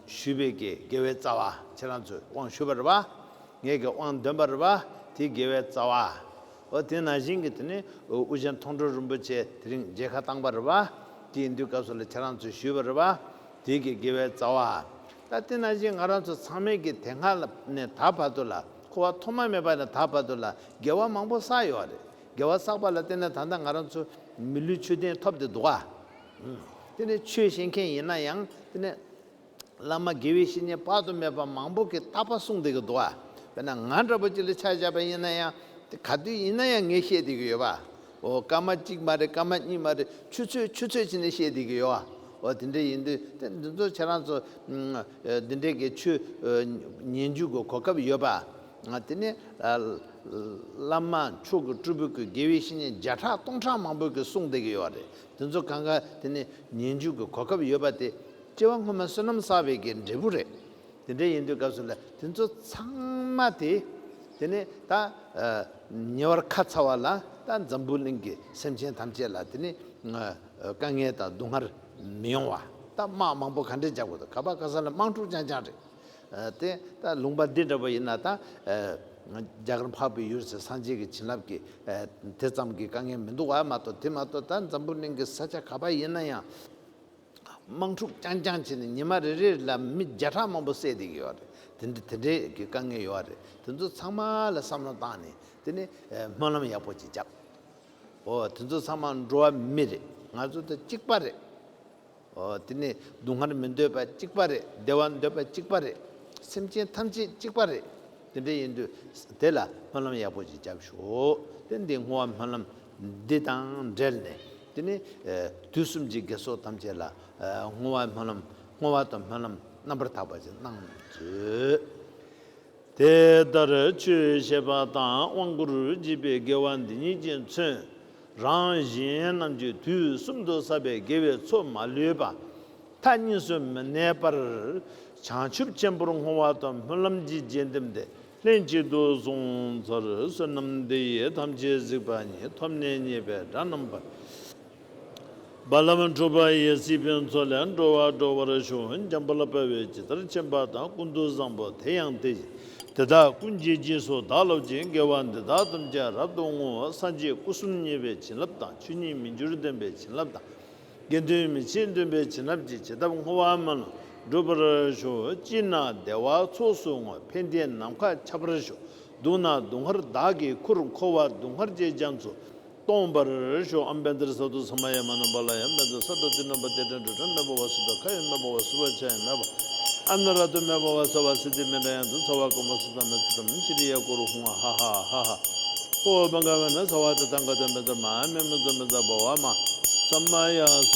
ཞུས་པའི་གི་དགེ་བའི་རྩ་བ། ཁྱེད་རང་ཚོས་དབང་ཞུ་བར་བ། ངེད་གི་དབང་འདོན་པར་བ། དེའི་དགེ་བའི་རྩ་བ། ཨོ་དེ་ན་བཞིན་གི་དེ་ནས་ཨུ་རྒྱན་མཐོང་གྲོལ་རིན་པོ་ཆེ་དེ་རིང་མཇལ་ཁ་བཏང་བར་བ། དེའི་དུས་སྐབས་སུ་ལ་ཁྱེད་རང་ཚོས་ཞུས་བར་བ། དེའི་གི་དགེ་བའི་རྩ་བ། ད་དེ་ན་བཞིན་ང་རང་ཚོ་ཚང་མས་གི་དེ་སྔ་ནས་ད་བར་དུ་ལ་འཁོར་བ་ཐོག་མ་མེད་པ་ནས་ད་བར་དུ་ལ་དགེ་བ་མང་པོ་བསགས་ཡོད་བ་རེད་དགེ་བ་བསགས་པ་ལ་བརྟེན་ནས་ད་ལྟ་ང་རང་ཚོ་མི་ལུས་ཆོས་ལྡན་ཐོབ་དེ་འདུག་བ། དེ་ནི་ཆོས་ཤེས་མཁན་ཡིན་ན་ཡང་དེ་ནི། བླ་མ་དགེ་བའི་བཤེས་གཉེན་དཔག་ཏུ་མེད་པ་མང་པོ་གིས་རྟག་པ་གསུངས་བསྡད་ཀྱི་འདུག་བ། དཔེར་ན་ང་འདྲ་བོ་ཅིག་ལ་ཕྱག་བྱ་བ་ཡིན་ན་ཡང། དེ་ག་དུས་ཡིན་ན་ཡང་ངས་བཤད་བསྡད་ཀྱི་ཡོད་བ། འོ་སྐར་མ་གཅིག་མ་རེད་སྐར་མ་གཉིས་མ་རེད་ཆུ་ཚོད་ཆུ་ཚོད་བྱས་ནས་བཤད་བསྡད་ཀྱི་ཡོད་བ། འོ་དེ་འདྲ་ཡིན་དུས་དེ་འདི་ཚོ་ཁྱེད་རང་ཚོ། འདི་འདྲའི་གི་ཆོས་ཉན་རྒྱུ་གི་གོ་སྐབས་ཡོད་བ། དེ་ནི། བླ་མ་མཆོག་གི་སྤྲུལ་སྐུ་གི་དགེ་བའི་བཤེས་གཉེན་བརྒྱ་ཕྲག་སྟོང་ཕྲག་མང་པོ་གིས་གསུངས་བསྡད་ཀྱི་ཡོད་བ་རེད། དེ་ཚོ་གང་གཱ་དེ་ནི་ཉིན་རྒྱུན་གྱི་གོ་སྐབས་ཡོད་པ་དེ་སྐྱེ་བ་སྔོན་མ་བསོད་ནམས་བསགས་པའི་གི་འབྲས་བུ་རེད། དེ་འདྲ་ཡིན་དུས་སྐབས་སུ་ལ་དེ་ཚོ་ཚང་མ་དེ་དེ་ནི་ད་ཉེ་བར་ཁ་ཚ་བ་ལ་ད་འཛམ་བུ་གླིང་གི་སེམས་ཅན་ཐམས་ཅད་ལ་དེ་ནི་དཀའ་ངལ་དང་སྡུག་བསྔལ་མི་ཡོང་བ་ད་དམག་མང་པོ་ག་འདྲས་རྒྱག་དགོས་དང་ག་པ་ག་ས་ལ་དམག་འཁྲུག་རྐྱང་རྐྱང་རེད། དེ་ལྟར་ལུང་པ་འདི་འདྲ་བ་ཡིན་ན་དང། རྒྱ་གར་འཕགས་པའི་ཡུལ་ཟེར་སངས་རྒྱས་ཀྱི་བྱིན་རླབས་ཀྱིས་དེ་ཙམ་གྱི་དཀའ་ངལ་མི་འདུག་བ་མ་གཏོགས་དེ་མ་གཏོགས་ད་འཛམ་བུ་གླིང་གི་ས་ཆ་ག་པ་ཡིན་ན་ཡང། དམག་འཁྲུག་རྐྱང་རྐྱང་བྱས་ནས་ཉི་མ་རེ་རེ་ལ་མི་བརྒྱ་ཕྲག་མང་པོ་བསད་བསྡད་ཀྱི་ཡོད་རེད་དེ་འདྲའི་གི་དཀའ་ངལ་ཡོད་རེད་དེ་ཚོ་ཚང་མ་ལ་བསམ་བློ་བཏང་ནས་དེ་ནི་སྨོན་ལམ་ཡག་པོ་ཅིག་བརྒྱབ། འོ་དེ་ཚོ་ཚང་མ་འགྲོ་བ་མི་རེད་ང་ཚོ་ད་གཅིག་པ་རེད། དེ་ནི་སྡུག་བསྔལ་མི་འདོད་པ་གཅིག་པ་རེད་བདེ་བ་འདོད་པ་གཅིག་པ་རེད་སེམས་ཅན་ཐམས་ཅད་གཅིག་པ་རེད་དེ་འདྲ་ཡིན་དུས་དེ་ལ་སྨོན་ལམ་ཡག་པོ་ཅིག་བརྒྱབ་ཤོག་དེ་འདི་བསྔོ་བ་སྨོན་ལམ་འདི་དང་འབྲེལ་ནས་དེ་ནི་དུས་གསུམ་གྱི་དགེ་ཚོགས་ཐམས་ཅད་ལ་བསྔོ་བ་སྨོན་ལམ་བསྔོ་བ་དང་སྨོན་ལམ་རྣམ་པར་དག་པ་ཅིག་གནང་མཛོད། དེ་ལྟར་ཆོས་བཤད་པ་དང་དབང་བསྐུར་བགྱིས་པའི་དགེ་བ་འདི་ཉིད་ཀྱིས་མཚོན་རང་གཞན་རྣམས་ཀྱི་དུས་གསུམ་དུ་བསགས་པའི་དགེ་བའི་ཚོགས་མ་ལུས་པ་མཐའ་གཉིས་སུ་མི་གནས་པར་བྱང་ཆུབ་ཆེན་པོར་བསྔོ་བ་དང་སྨོན་ལམ་གྱིས་རྗེས་འདེམས་ཏེ་ལྷན་ཅིག་ཏུ་གཟུང་ཚར་བསོད་ནམས་འདི་ཡིས་ཐམས་ཅད་གཟིགས་པ་ཉིད་ཐོབ་ནས་མཉེས་པའི་སྒྲ་རྣམ་པར། རྦ་ལམ་གྲུ་པ་ཡི་སྲིད་དཔོན་མཚོ་ལས་འགྲོ་བ་འགྲོ་བར་བྱུང་འཇམ་པོ་ལ་དཔའ་བོས་ཇི་ལྟར་བྱིན་པ་དང་ཀུན་ཏུ་བཟང་པོ་དེ་ཡང་དེ་བཞིན་དེ་དག་ཀུན་གྱིས་རྗེས་སུ་བདག་སློབ་ཅིང་དགེ་བ་འདི་དག་ཐམས་ཅད་རབ་ཏུ་བསྔོ་བ་སངས་རྒྱས་སྐུ་གསུམ་བརྙེས་པའི་བྱིན་རླབས་དང་ཆོས་ཉིད་མི་འགྱུར་སྟོན་པའི་བྱིན་རླབས་དང། དགེ་འདུན་མི་ཕྱེད་སྟོན་པའི་བྱིན་རླབས་ཀྱིས་བྱེད་ཐབས་བསྔོ་བ་མ་ལུས་འགྲུབ་པར་ཞུ། སྐྱིད་ན་བདེ་བ་ཚོགས་སུ་བསྔོ་ཕན་བདེ་ནམ་མཁའ་ཁྱབ་པར་ཞུ། སྡུག་ན་སྡུག་བསྔལ་བདག་གིས་ཁུར་འཁོར་བ་སྡུག་བསྔལ་ཅེས་རྒྱ་མཚོ་སྟོང་པར་ཤོག་ཨམ་བན་དྷར་སར་དུ་ས་མ་ཡ་མ་ནམ་པ་ལ་ཡང་བན་དྷར་སར་དུ་ཏི་ནམ་པ་ཏེ་དྲན་དྲོད་དྲན་མེ་ཕོ་བ་སུ་དང་ཁ་ཡོད་མེ་ཕོ་བ་སུ་བ་ཆ་ཡང་མེ་བ་ཨ་ན་ར་དུ་མེ་བ་བ་ས་བ་སི་ཏི་མེ་འདྲ་ཡང་དུ་ཚ་བ་ཀུ་མ་སུ་དང་མེ་ཚུ་དམ་ཤི་རི་ཡ་ཀོ་རུ་ཧུང་ཨ་ཧ་ཧ་ཧ་ཧ་ཧོ་བན་ག་བན་ན་ས་བ་ཏི་ཐང་ཀ་ཏི་མེ་ཚ་མ་མེ་མེ་ཚུ་མེ་ཚ་བ་བ་མ་ས་མ་ཡ་ས